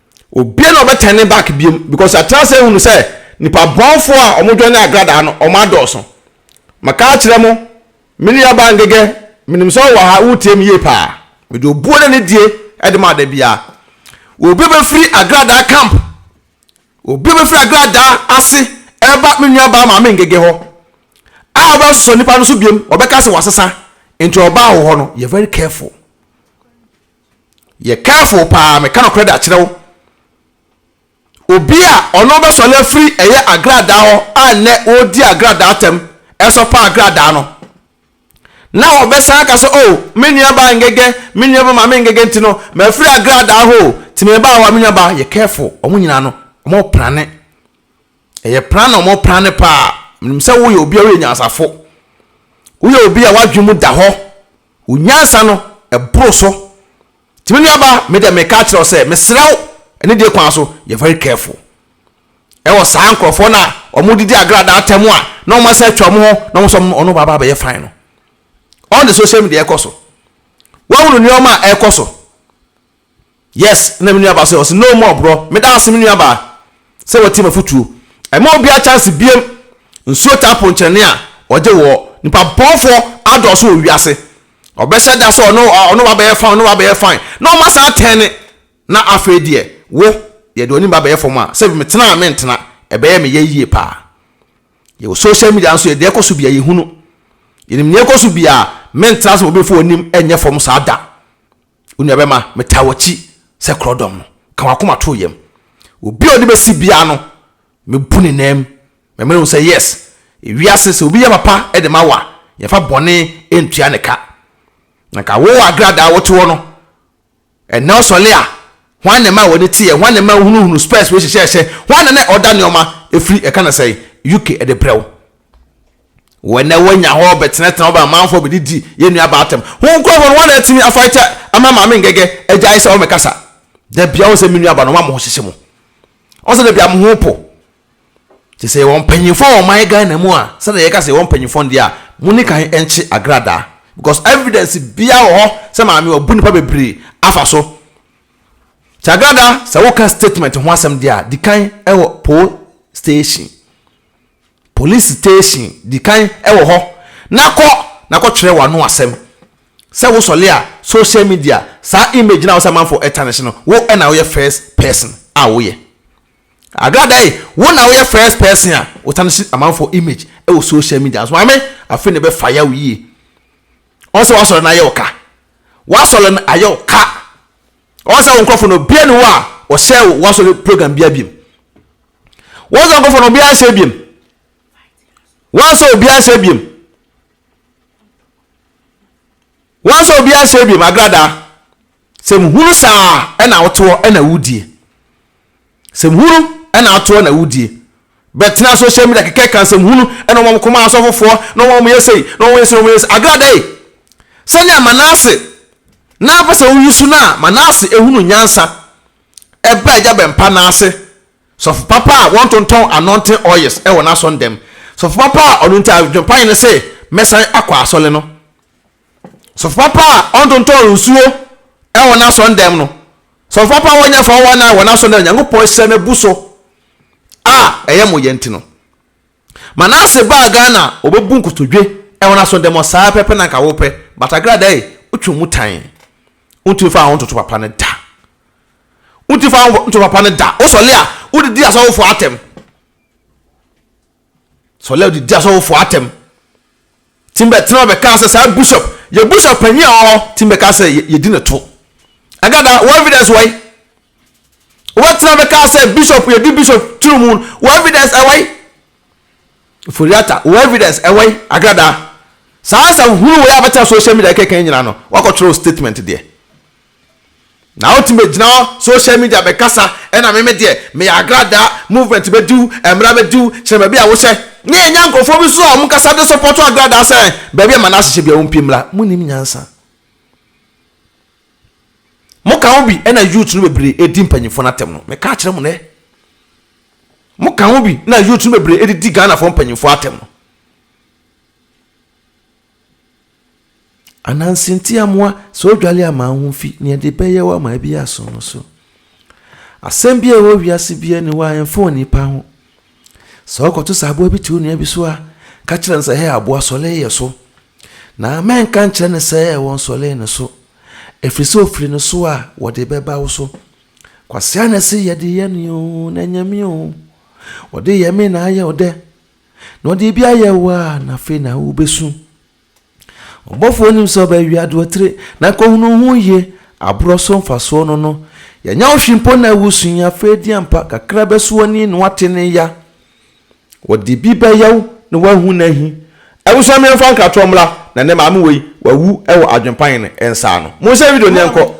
Obiara na ɔbɛtɛn ne back biom because atena sɛ ehunu sɛ nipa bɔnfo a ɔmo dwɛn ne agradaa no ɔmo adɔɔso. Maka akyerɛ mo, me nua baa Ngegɛ, menim sɛ ɔwɔ ha, woretie me yie paa. Mede obuo ne anidie ɛde ma dabiara. Obi bɛfiri agradaa camp, obi bɛfiri agradaa ase ɛreba me nua baa Maame Ngegɛ hɔ a ɔbɛsosɔ nipa no so biom, ɔbɛka sɛ wasesa, nti ɔbaa wo hɔ no yɛ very careful. Yɛ careful paa meka nokorɛ de akyerɛ wo. Obi a ɔno bɛsɔre afiri ɛyɛ agradaa hɔ a nnɛ ɔredi agradaa tɛm ɛsɔpa agradaa no na ɔbɛsan aka sɛ oh me nua baa ngɛgɛ me nua ba maame ngɛgɛ nti no mafiri agradaa hɔ o ti mebaa hɔ a me nua baa yɛ careful wɔn nyinaa no wɔn prane ɛyɛ prane na wɔn prane paa menim sɛ woyɛ obi a woyɛ nyansafo woyɛ obi a wadwene mu da hɔ Wo nyansa no boro so. Nti me nuaba, me deɛ meka akyerɛ wo sɛ, mesrɛ wo, anidie kwan so, yɛ very careful wɔ saa nkorɔfoɔ no a wɔdidi agradaa atɛm a na wɔn asan atwa wɔn ho na wɔn nso wɔn ne wɔn aba abɛyɛ fine no. On the social media ɛkɔ so. Woahunu nneɛma a ɛkɔ so Yes, na me nua baa so ɛ, ɔse no more borɔ, meda ase me nua baa sɛ watie m'afotuo. Ɛma obiara chance biom, nsuo taa po nkyerɛne a ɔgye woɔ, nipa bɔnfoɔ adɔɔso wɔ wiase, ɔbɛhyɛ da sɛ ɔne ɔne wo abɛyɛ fine, ɔne wo abɛyɛ fine, na ɔma saa tɛɛne, na afei deɛ wo, yɛde w'anim ba bɛyɛ fam a, sɛbi metena a mentena, ɛbɛyɛ me yɛ yie paa. Yɛwɔ social media nso, yɛ deɛ ɛkɔ so bia yɛhunu, yɛnim nea ɛkɔ so bia, mentena sɛ obi mfa w'anim nyɛ fam saa da. Onuabɛma, metaa w'akyi sɛ korɔdɔm no, ka w'akoma to wo yam. Obi a ɔde bɛsi biara no, mɛbu ne nanm. Mɛma no ahu sɛ, yes, ewiase, sɛ obi yɛ papa de ma wo a, yɛmfa bɔne ntua ne ka. Na nka wo wɔ agradaa a wote hɔ no, ɛnnɛ wosɔle a, hwan na ɛmaa w'ani teɛ? Hwan na ɛmaa wohunuhunu spɛs wei hyɛhyɛɛhyɛ? Hwan na na ɔda nneɛma firi, yɛka no sɛn, UK de brɛ wo? Wɔn a wɔanya hɔ bɛtenatena hɔ bɛn amanfoɔ bɛdidi yɛn nuabaa atɛm. Ho nkurɔfoɔ no, wɔn na atumi afaete ama Maame Ngege agyae sɛ ɔmmɛkasa. Da biara wɔn sɛ me nuabaa no, wɔn a mo ho hyehye mo. Wɔn sɛ da biara mo ho po. Te sɛ yɛwɔ mpanyinfoɔ wɔ ɔman Ghana mu a, sɛdeɛ yɛka sɛ yɛwɔ mpanyinfoɔ no deɛ a, mo ne kan nkye agradaa. Because evidence biara wɔ hɔ sɛ Maame wabu nnipa bebree afa so. Kye agradaa, sɛ woka statement ho asɛm deɛ a, di kan wɔ pol station. Police station di kan wɔ hɔ na kɔ na kɔ twerɛ w'ano asɛm sɛ wo sɔle a social media saa image no a wo sɛ amanfoɔ tarnish no wo na wo yɛ first person a wo yɛ Agradai wo na wo yɛ first person a wo tarnish amanfoɔ image wɔ social media nso maame afei na ɛbɛ fire wo yie wɔn sɛ w'asɔre no ayɛ wo ka w'asɔre no ayɛ wo ka wɔn sɛ wo nkorɔfo no obiara ni hɔ a ɔhyɛ wo w'asɔre program biara biam Wɔn sɛ nkɔfɔ no obiara nsɛ ebiem. Wɔn sɛ obiara nsɛ ebiem. Wɔn sɛ obiara nsɛ ebiem agradaa. Sɛ muhunu saa ɛna wotoɔ ɛna wudie. Sɛ muhunu ɛna atoɔ ɛna wudie. Bɛtena social media kɛkɛ kan sɛ muhunu ɛna wɔn kɔma asɔfofoɔ na wɔn yɛ sei na wɔn yɛ sei na wɔn yɛ sei agradaa yi. Sɛnea Manase na apɛ sɛ woyi so no a Manase ehunu nyansa. ɛbaa Agya Bɛmpa no ase sɔfo papa a wɔntontɔn anointing oils wɔ n'asɔndam, sɔfo papa a ɔno nti adwempa yɛ ne sɛ mɛsan akɔ asɔre no, sɔfo papa a ɔntontɔn nsuo wɔ n'asɔndam no, sɔfo papa a wɔnyɛ fɔwɔ nan wɔ n'asɔndam, Nyankopɔn hyira no abu so a ɛyɛ mo yɛ nti no. Manase baa Ghana a ɔbɛbu nkotodwe wɔ n'aso dɛm ɔ saa pɛpɛ na nka wo pɛ but agrada ei wo twe mu tan wo ntumi fa wo ho ntoto papa no da wo ntumi fa wo ho ntoto papa no da wo sɔle a wo de di asɔfofoɔ atɛm sɔle a wo de di asɔfofoɔ atɛm. Tim bɛtenaa hɔ bɛkaa sɛ, Saa Bishop, yɛ Bishop panyin a ɔwɔ hɔ. Tim bɛkaa sɛ, Yɛdi no to. Agada, wo evidence wai? Wobɛtenaa bɛkaa sɛ, Bishop, yɛdi Bishop turo mu, wo evidence ɛwai? Foriata, wo evidence ɛwai? Agada, saa asɛm hunu wei a bɛtena social media kɛkɛn nyinaa no, woakɔtwerɛ wo statement deɛ. Na otumi bɛgyina hɔ social media bɛkasa ɛna me me deɛ meyɛ agradaa movement bɛdiw mmra bɛdiw kyerɛ baabi a wohyɛ na yɛnya nkorɔfoɔ bi nso a wɔn kasa de sɔpɔto agradaa sɛ baabi a Manase hyɛ bia wɔn pi mmra mo nim nyansa mo ka ho bi ɛna youth no bebree ɛdi mpanyinfoɔ no atɛm no me ka kyerɛ mo nɛ mo ka ho bi na youth no bebree ɛdidi Ghanafoɔ mpanyinfoɔ atɛm no. Ananse nti amoa sɛ odwale ama wo ho fi nea ɛde bɛyɛ wo ama ebi aso no so. Asɛm bi a ɛwɔ wiase bi ani hɔ a ɛmfa onipa ho. Sɛ wokɔto sɛ aboa bi te wo nua bi so a, ka kyerɛ no sɛ, hɛ aboa sɔle yɛ so. Na mɛnka nkyerɛ no sɛ ɛwɔ nsɔle ne so, ɛfiri sɛ ofiri ne so a wɔde bɛba wo so. Kwasea na ɛse yɛde yɛ ne o, na ɛnyɛ me o. Wɔde yɛ me na ayɛ ɔdɛ. na ɔde ebi ayɛ wo a, na afei na wubesu. Ɔbɔfo onim sɛ ɔbɛwe adoɔtire, na nkohunu ho yie, aborɔ so mfasoɔ no no. Yɛanya wo hwi mpo na wusu yi, afei deɛ ampa kakra bɛso w'ani na woate ne ya. Ɔde bi bɛyɛ wo na woahu n'ahi. Abusua me mfa nkratoɔ mmra na nɛ maame wei wawu wɔ adwenpaen nsa ano. Monsɛ video no yɛnkɔ.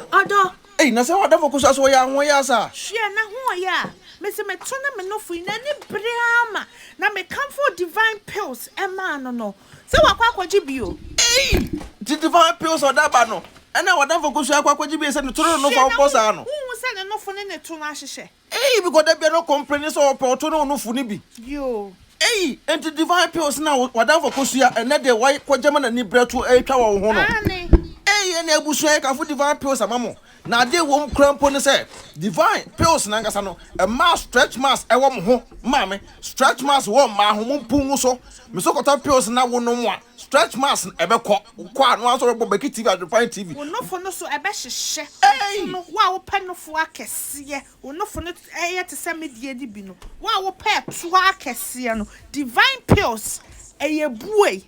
Ei, na sɛ w'adamfo ko so a, so wɔyɛ ahoɔyaa saa? Hwɛ n'ahoɔyaa a mese meto no me nofo yi, n'ani bere ara ma, na mekamfoo Divine Pills maa no no. Sɛ wakɔ akɔgye bio. Ei, nti Divine Pills a ɔde aba no na w'adamfo ko so yi akɔ akɔgye bio sɛ ne to ne ne nofo a wɔbɔ saa no? Hwɛ, na wonhu sɛ ne nofo ne ne to no ahyehyɛ? Eii bikɔ da biara ɔkɔmpleni sɛ ɔpɛ ɔto ne onufo no bi. Yoo. Eii enti divine pills no a wadanfo kosua ɛnnɛ de wae kɔ gyama na nibra tu ɛretwa wɔ wo ho no. Aane. Eii ɛnna abusua yɛ kamfo divine pills ama mo na ade a ɛwɔ mu koraa mpo ne sɛ divine pills no ankasa no ɛmaa stretch marks ɛwɔ mo ho maame stretch marks wɔ mmaa ho mo mpu ngu so me so kɔtɔ pills na wo nom a Stretch marks no ɛbɛkɔ. Wokɔ a, na woara nso wobɛbɔ Becky TV, Adwenpan TV. Wo nofo no so ɛbɛhyehyɛ. Ei! Sono, wo a wopɛ nofo akɛseɛ, wo nofo no yɛ te sɛ me deɛ no bi no. Wo a wopɛ ɛtoɔ akɛseɛ no, Divine Pills, ɛyɛ buei.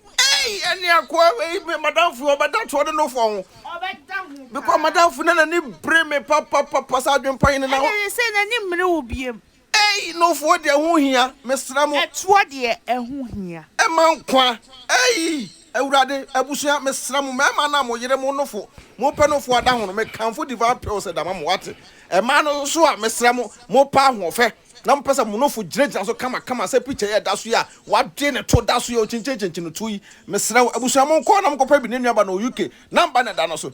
Ei! Ɛne akoa wei, me madamfo yi, ɔbɛda toɔ ne nofo ho. Ɔbɛda ho paa. Because madamfo no na n'ani bere me papapapa sɛ Adwenpan yi ne na. Ɛna seesei n'ani mmere wo biom. Ei, Nofoɔ deɛ ɛho hia, mesrɛ mo. Ɛtoɔ deɛ ɛho hia. Ɛma nkwa. Ei, Awurade, abusua, mesrɛ mo, mmarima no a mo yere, mo nofo, mopɛ nofoɔ ada ho no, mekamfo Divine Pills da ma mo, wate? Mmaa no nso a, mesrɛ mo, mopɛ ahoɔfɛ, na mopɛ sɛ mo nofo gyinagyina so kamakama sɛ picture yi a ɛda so yi a wɔade ne to da so yi a ɔkyinkyinkyinkyin ne to yi, mesrɛ wo, abusua, monkɔ na monkɔpɛ bi, ne nuaba no wɔ UK, number na ɛda no so.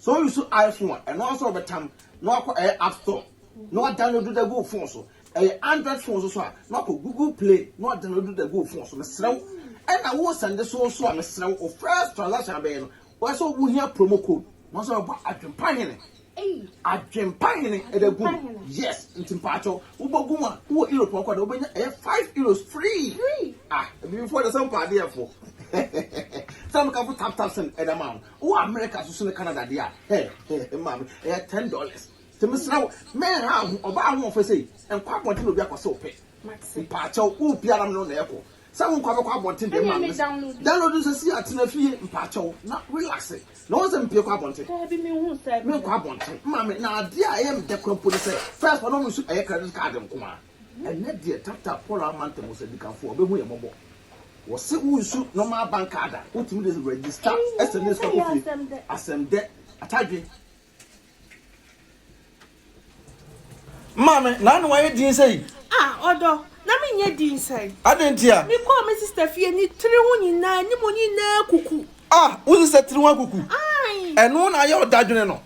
Sɛ wo use iPhone a, ɛno ara nso wobɛtam na wakɔ ɛyɛ app store na wadownload da gu wo phone so. Ɛyɛ Android phone nso so a, na wakɔ Google Play na wadownload da gu wo phone so. Mesrɛ wo, ɛna wo sɛnde so nso a, mesrɛ wo, wo first transaction abɛyɛ no, ɛwɔ sɛ wo hia promo code. Wɔn sɛ wɔbɔ adwempa hene. Adwempa hene ɛda gu mu. Yes, nti mpaakyɛ wo, wobɔ gu mu a, wowɔ Europe ɔkɔ de, wobɛnya ɛyɛ five euros free. Ah, abibifoɔ deɛ sɛ mpaadeɛfoɔ. Sɛ meka fo tap tap send ɛda ma ho. Wowɔ America so so ne Canada deɛ a, hɛ hɛ hɛ maame, ɛyɛ ten dollars. Nti mesrɛ wo, mɛnha wo ho, ɔbaa ahoɔfɛ sei, nkɔ abɔnten na obi akɔ sɛ ɔpɛ. Mpaakyɛw, wopia na mene wo na ɛkɔ. Sɛ wonkɔ a mɛkɔ abɔnten deɛ maame mesrɛ. Download no sɛsi a, tena fie, mpaakyɛw, na relaxe. Na woahu sɛ mepie kɔ abɔnten? Menkɔ abɔnten, maame, na adeɛ a ɛyɛ me dɛ koraa mpo ne sɛ, first na ɔno nso ɛyɛ credit card nko ara. Ɛnyɛ deɛ tata pɔra amantam hɔ sɛ adikanfoɔ bɛhu yɛn mmɔbɔ. Wɔse wonsu normal bank card a wotumi de register sɛnɛ sika kɔ fie. Asɛm dɛ atadwe. Maame, na ano ayɛ din sɛi? Ah ɔdɔ, na menyɛ din sɛn? Adɛn ntia? Mekɔɔ me sister fie, ne tiri ho nyinaa, ne mu nyinaa kuku. Ah wo sesɛ tiri ho akuku. Ɛno na ayɛ wo dadwene no.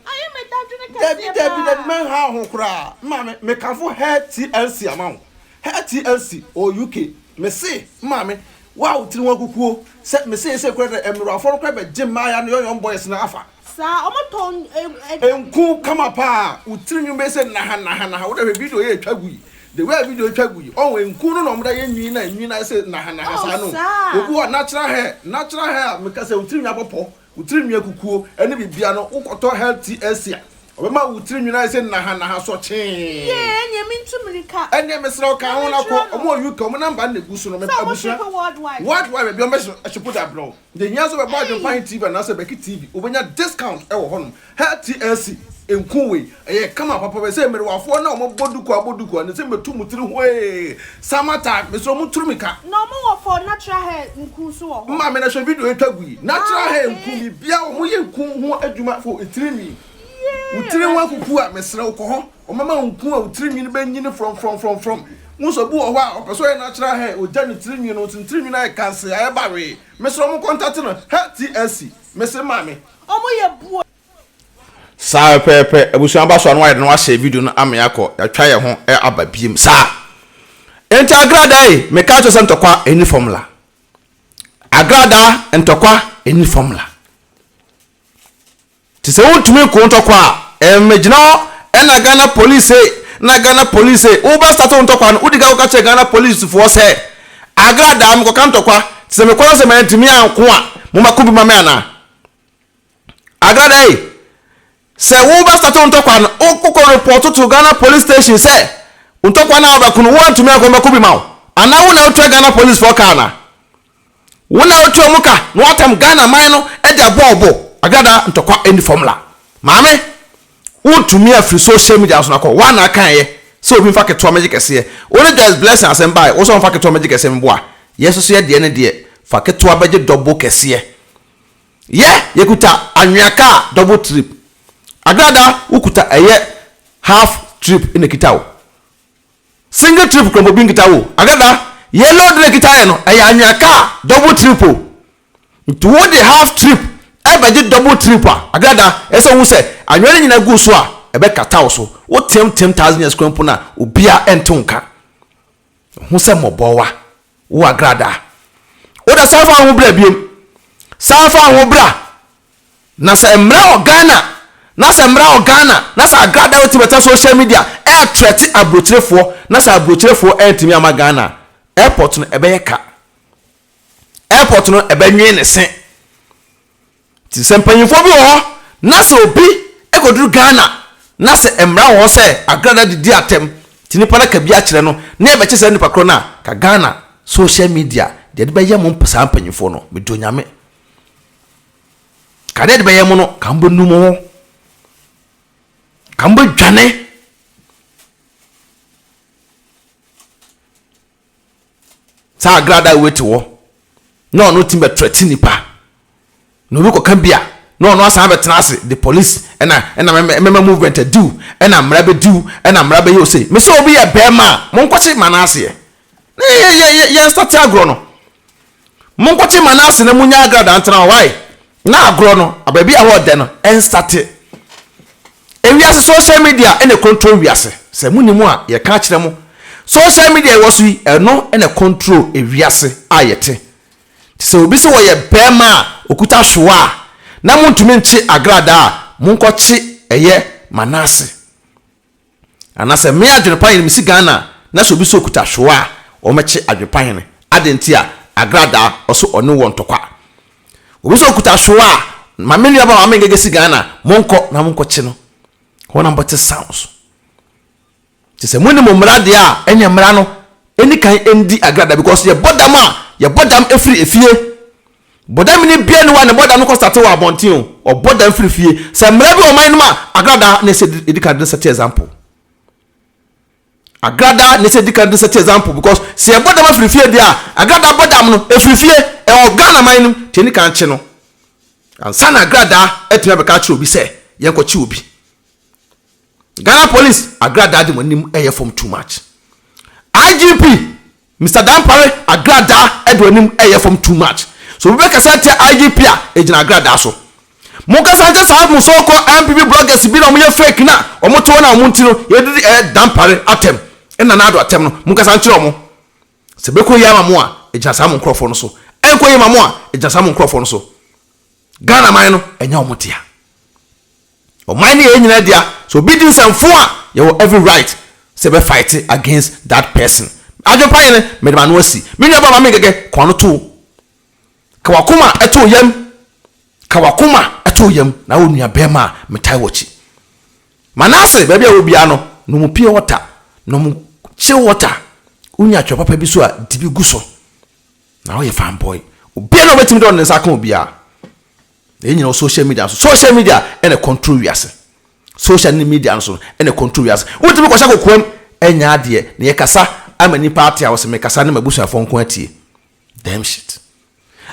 Dabi dabi dabi mɛnhaw ho koraa. Maame me kamfo hair TLC ama wo. Hair TLC wɔ UK. Mese maame wo a wo tiri ho akukuo sɛ me seesei koraa dɛ ɛmmerewafoɔ no koraa bɛgye mmaaya no yɔyɔm boys no afa. Saa ɔmo tɔn. Nku kama paa wo tiri nwi bɛyɛ sɛ naha naha naha wo dɛ hwɛ video yi a ɛtwa gu yi The way a video twa gu yi ɔho nku no na ɔmo da yɛ nwin na nwin ayɛ sɛ nahanaha saa no obi hɔ natural hair natural hair a meka sɛ wo tiri nwi abɔ pɔ wo tiri nwi akukuo ɛne bibia no wo kɔtɔ hair TLC a ɔbɛma wo tiri nwin ayɛ sɛ nahanaha sɔkyee. Yee ɛneɛ mentu mirika. Ɛneɛ mesrɛ wo ka ho na kɔ ɔmo wɔ UK ɔmo number no na egu so no abusua world wide baabi a ɔmo bɛ ship de abrɛ wo. Deɛ hia sɛ wobɛbɔ Adwempanhe TV anaasɛ Bɛki TV, wobɛnya discount wɔ hɔnom. Her TLC, nku wei, ɛyɛ kama papa, bɛyɛ sɛ mmerewafoɔ no a wɔbɔ duku abɔ duku a, ne sɛ mɛtu mo tiri hoe, summer time, mesrɛ mo nturu mika. Na ɔmo wɔ for natural hair nku nso wɔ hɔ. Maame na hwɛ video yi twa gu yi. Natural hair nku biribiara wɔyɛ nku ho adwuma for tirinwi. Wo tiri ho akuku a mesrɛ wo kɔ hɔ. Ɔmɛma nku a wo tiri nwini bɛ nyini frɔmfrɔmfrɔmfrɔm. Wohu sɛ obi wɔ hɔ a, ɔpɛ sɛ ɔyɛ natural hair, ogya ne tiri nwini no, nti ne tiri nwini ayɛ kansee, ayɛ bawee. Mesrɛ ɔmo kɔntate no, hɛ TSC, mese mma me. Ɔmo yɛ boa. Saa pɛpɛɛpɛ abusua aba so a na wayɛ dɛn na washare video no ama yɛakɔ yɛatwa yɛn ho aba biom saa enti agradaa ei mekaa kyerɛ sɛ ntɔkwa ɛni formula agradaa ntɔkwa ɛni formula. Te sɛ wontumi nko ntɔkwa a ɛmmegyina hɔ ɛna Ghana police sei na Ghana police sei. Wo bɛ start wo ntɔkwa no, wo di kan kɔka kyerɛ Ghana police foɔ sɛ Agra daa me kɔka ntɔkwa, te sɛ me kɔ na sɛ mantumi anko a mo ma ko bi ma me anaa? Agra daa ei, sɛ wo bɛ start wo ntɔkwa no, wo kɔ report to Ghana police station sɛ wo ntɔkwa no a wo bɛ ko no wo antumi anko mɛ ko bi ma wo anaa wo na wo tua Ghana police foɔ kaa anaa? Wo na wotua mu ka na woatam Ghana man no de abɔ wo bo. Agradaa ntɔkwa nni fam la. Maame, wontumi afiri social media no so no akɔ. Woa na akaeɛ sɛ obi mfa ketewa mmɛgye kɛseɛ. Wo ne Joyce Blessing asɛm baeɛ, wo sɛ ɔmfa ketewa mmɛgye kɛseɛ mmoa. Yɛ nso so yɛ deɛ ne deɛ fa ketewa bɛgye dɔbo kɛseɛ. Yɛ, yɛkuta anwea kaa double trip. Agradaa, wokuta ɛyɛ half trip na ɛkita wo. Single trip kura bobi nkita o agada yɛ load na ɛkita yɛ no ɛyɛ anwea kaa double trip o nti wo de half trip ɛbɛgye double trip a agada ɛsɛ wohu sɛ anwea no nyina gu so a ɛbɛkata wo so wo team team thousand years kura mpo no a obia ɛnte wo nka hu sɛ mmɔbɔwa wo agada woda san fa wo ho bra biom san fa wo ho bra. Na sɛ mmara wɔ Ghana, na sɛ mmara wɔ Ghana, na sɛ Agrada bɛtumi bɛtena social media ɛretrɛte aburokyerefoɔ, na sɛ aburokyerefoɔ antumi amma Ghana a, airport no ɛbɛyɛ ka. Airport no ɛbɛnwee ne se. Nti sɛ mpanyinfoɔ bi wɔ hɔ, na sɛ obi ɛkɔduru Ghana, na sɛ mmara wɔ hɔ sɛ Agrada de di atɛm, nti nipa no aka bi akyerɛ no, na ɛbɛkye saa nipa korɔ no a, ka Ghana social media deɛ ɛde bɛyɛ mo saa mpanyinfoɔ no, mede Onyame. Ka dɛ edebɛyɛ mo no, ka mobɔnu mo ho, ka mobɔdwane. Saa agrada wei te hɔ na ɔno tumi bɛtrɛte nipa na obi kɔka bi a na ɔno asan bɛtena ase de police ɛna ɛna mɛma movement adiw ɛna mmara bɛdiw ɛna mmara bɛyɛ osei. Mesɛ obi yɛ bɛɛma a monkɔkye ma no aseɛ Na yɛ yɛ yɛ yɛn nsa te agorɔ no. Mo nkɔkye Manase na mo nya agradaa ntena hɔ. Why? Na agorɔ no, abaabi a hɔ ɔdɛ no, nsa te. Ewiase social media na control wiase. Sɛ mo nim a, yɛ ka akyerɛ mo. Social media ɛwɔ so yi, ɛno na control ewiase a yɛ te. Nti sɛ obi se ɔyɛ bɛɛma a okuta hwewa a, na mo ntumi nkye agradaa a, mo nkɔkye ɛyɛ Manase. Anasɛ me adwene pa hene me si Ghana a na sɛ obi sɛ okuta hwewɔ a wɔmɛkye adwene pa hene adɛn nti a agradaa ɔse ɔne wɔ ntɔkwa obi sɛ okuta hwewɔ a ma me nua ba maame ngege si Ghana monkɔ na monkɔ kye no hɔ na mobɛte sounds nti sɛ moni mo mmara deɛ a ɛne mmara no ɛni kan ɛndi agradaa because yɛbɔ dam a yɛbɔ dam ɛfiri efie. Bɔdam ne bia ni hɔ a ne bɔdam no kɔ sate wɔ abɔnten o, ɔbɔ dam firi fie. Sɛ mmara bi wɔ ɔman no mu a, agradaa na ɛsɛ di kan de sɛte example. Agradaa na ɛsɛ di kan de sɛte example because sɛ ɛbɔ dam afiri fie deɛ a, agradaa bɔ dam no ɛfiri fie, ɛwɔ Ghana man no mu, nti ɛni kan kye no. Ansa na agradaa atumi abɛka akyerɛ obi sɛ yɛnkɔkye obi. Ghana police, agradaa de mo anim ɛyɛ fam too much. IGP. Mister Dampare agradaa de w'anim reyɛ fam too much. So obi bɛkasa atia IGP a egyina agradaa so? Monkasa nkyɛ saa mo so call NPP bloggers bi na wɔyɛ fake na wɔte hɔ na wɔn nti no yɛdidi ɛɛ Dampare atɛm ɛne Nana Addo atɛm no monkasa nkyerɛ wɔn. Sɛ ɛbɛkɔ yie ama mo a egyina saa mo nkorɔfoɔ no so. Ɛnkɔ yie ma mo a egyina saa mo nkorɔfoɔ no so. Ghana man no ɛnyɛ wɔn dea. Ɔman no yɛ yɛn nyinaa dea, sɛ obi di nsɛm fo a yɛwɔ every right sɛ yɛbɛ fight against that person. Adwene pa yɛn, mede m'ano asi. Me nua barima Mengege, ka w'ano to wo. Ka w'akoma to wo yam. Ka w'akoma to wo yam na wo nua barima a metaa w'akyi. Manasse, baabi a ɛwɔ biara no, nom pure water, nom chill water. Wonya twɛ papa bi so a, di bi gu so. Na woyɛ fanboy. Obiara nni hɔ a obetumi de ɔde ne nsa aka obiara. Na yɛn nyinaa wɔ social media so. Social media ɛna ɛcontrol wiase. Social ne media no so no ɛna ɛcontrol wiase. Wotumi kɔhyɛ kokoam anya adeɛ na yɛkasa ama nnipa ate a wɔse mekasa ne m'abusuafoɔ nko atie. Damn shit.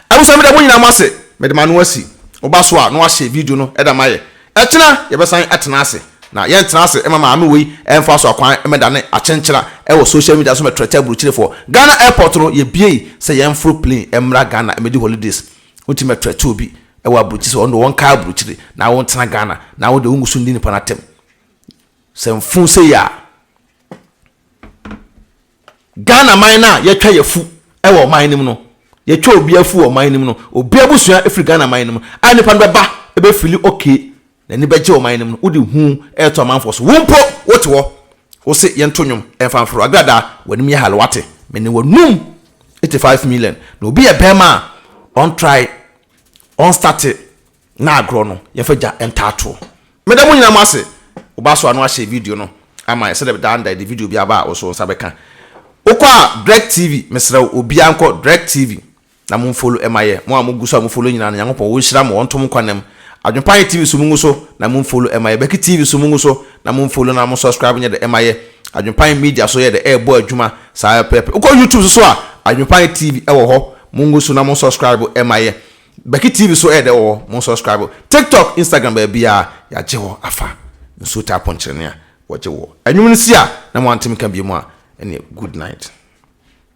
Abusua meda mo nyinaa mo ase. Mede m'ano asi wo ba so a na wahyɛ video no da mayɛ. Ɛkyena yɛbɛsan atena ase. Na yɛntena ase mma maame wei mfa so akwan mmɛdane akyenkyena wɔ social media so mmɛtrɛtɛ aburukyerefoɔ. Ghana airport no yɛbuei sɛ yɛmforo plane mmra Ghana mmɛdi holidays. Wontumi ɛtrɛte obi ɛwɔ aburokyire sɛ ɔno deɛ ɔnkae aburokyire na wontena Ghana na wodeɛ wongu so nni nipa no atɛm sɛ mfuu sɛ yia Ghana man no a yɛtwa yɛfu ɛwɔ ɔman no mu no yɛtwa obi afu wɔ ɔman no mu no obi abusua ɛfiri Ghana man no mu a nipa no bɛba ɛbɛfili okay N'ani bɛgye ɔman no mu no, wode hu reto amanfoɔ so. Wo mpo, wote hɔ, wose, Yɛnto nnwom, ɛmfa mforo agradaa, w'anim yɛ hare, woate? Mene w'anom, 85 million, na obi yɛ bɛmma a, ɔntrae, ɔnstate n'agorɔ no, yɛmfa gya ntaa toɔ. Meda mo nyinaa mo ase, wo ba so ano ahyɛ video no ama yɛn, sɛdeɛ daa no da yɛde video biara ba a, wo so wo nsa bɛka. Wokɔ a, DirecTv, mesrɛ wo, obiara nkɔ, DirecTv, na mo mfolo ɛma yɛ mo a mo gu so a mo folo nyinaa no nyankopɔn wo nhyira mo ɔnto mo kwan nam adwempa yɛ tv so mo ngu so na mo mfolo ɛma yɛ bɛki tv so mo ngu so na mo mfolo na mo subscribe nyɛ dɛ ɛma yɛ adwempa yɛ media so yɛ dɛ ɛɛbɔ adwuma saa pɛpɛpɛ wo kɔ youtube so so a adwempa yɛ tv ɛwɔ hɔ mo ngu so na mo subscribe ɛma yɛ bɛki tv so ɛyɛ dɛ wɔ hɔ mo subscribe tiktok instagram baabiaa yagye hɔ afa nsuo taa ponkyerɛne a wɔgye wɔ anwum no si a na mo ante me ka biom a ɛneɛ good night.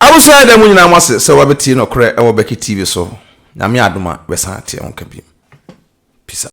Abusua da mu nyinaa moase sɛ wabɛtie nɔkorɛ wɔ Becky TV so, Nyame adom a bɛsan ateɛ wo nka bio. Peace out.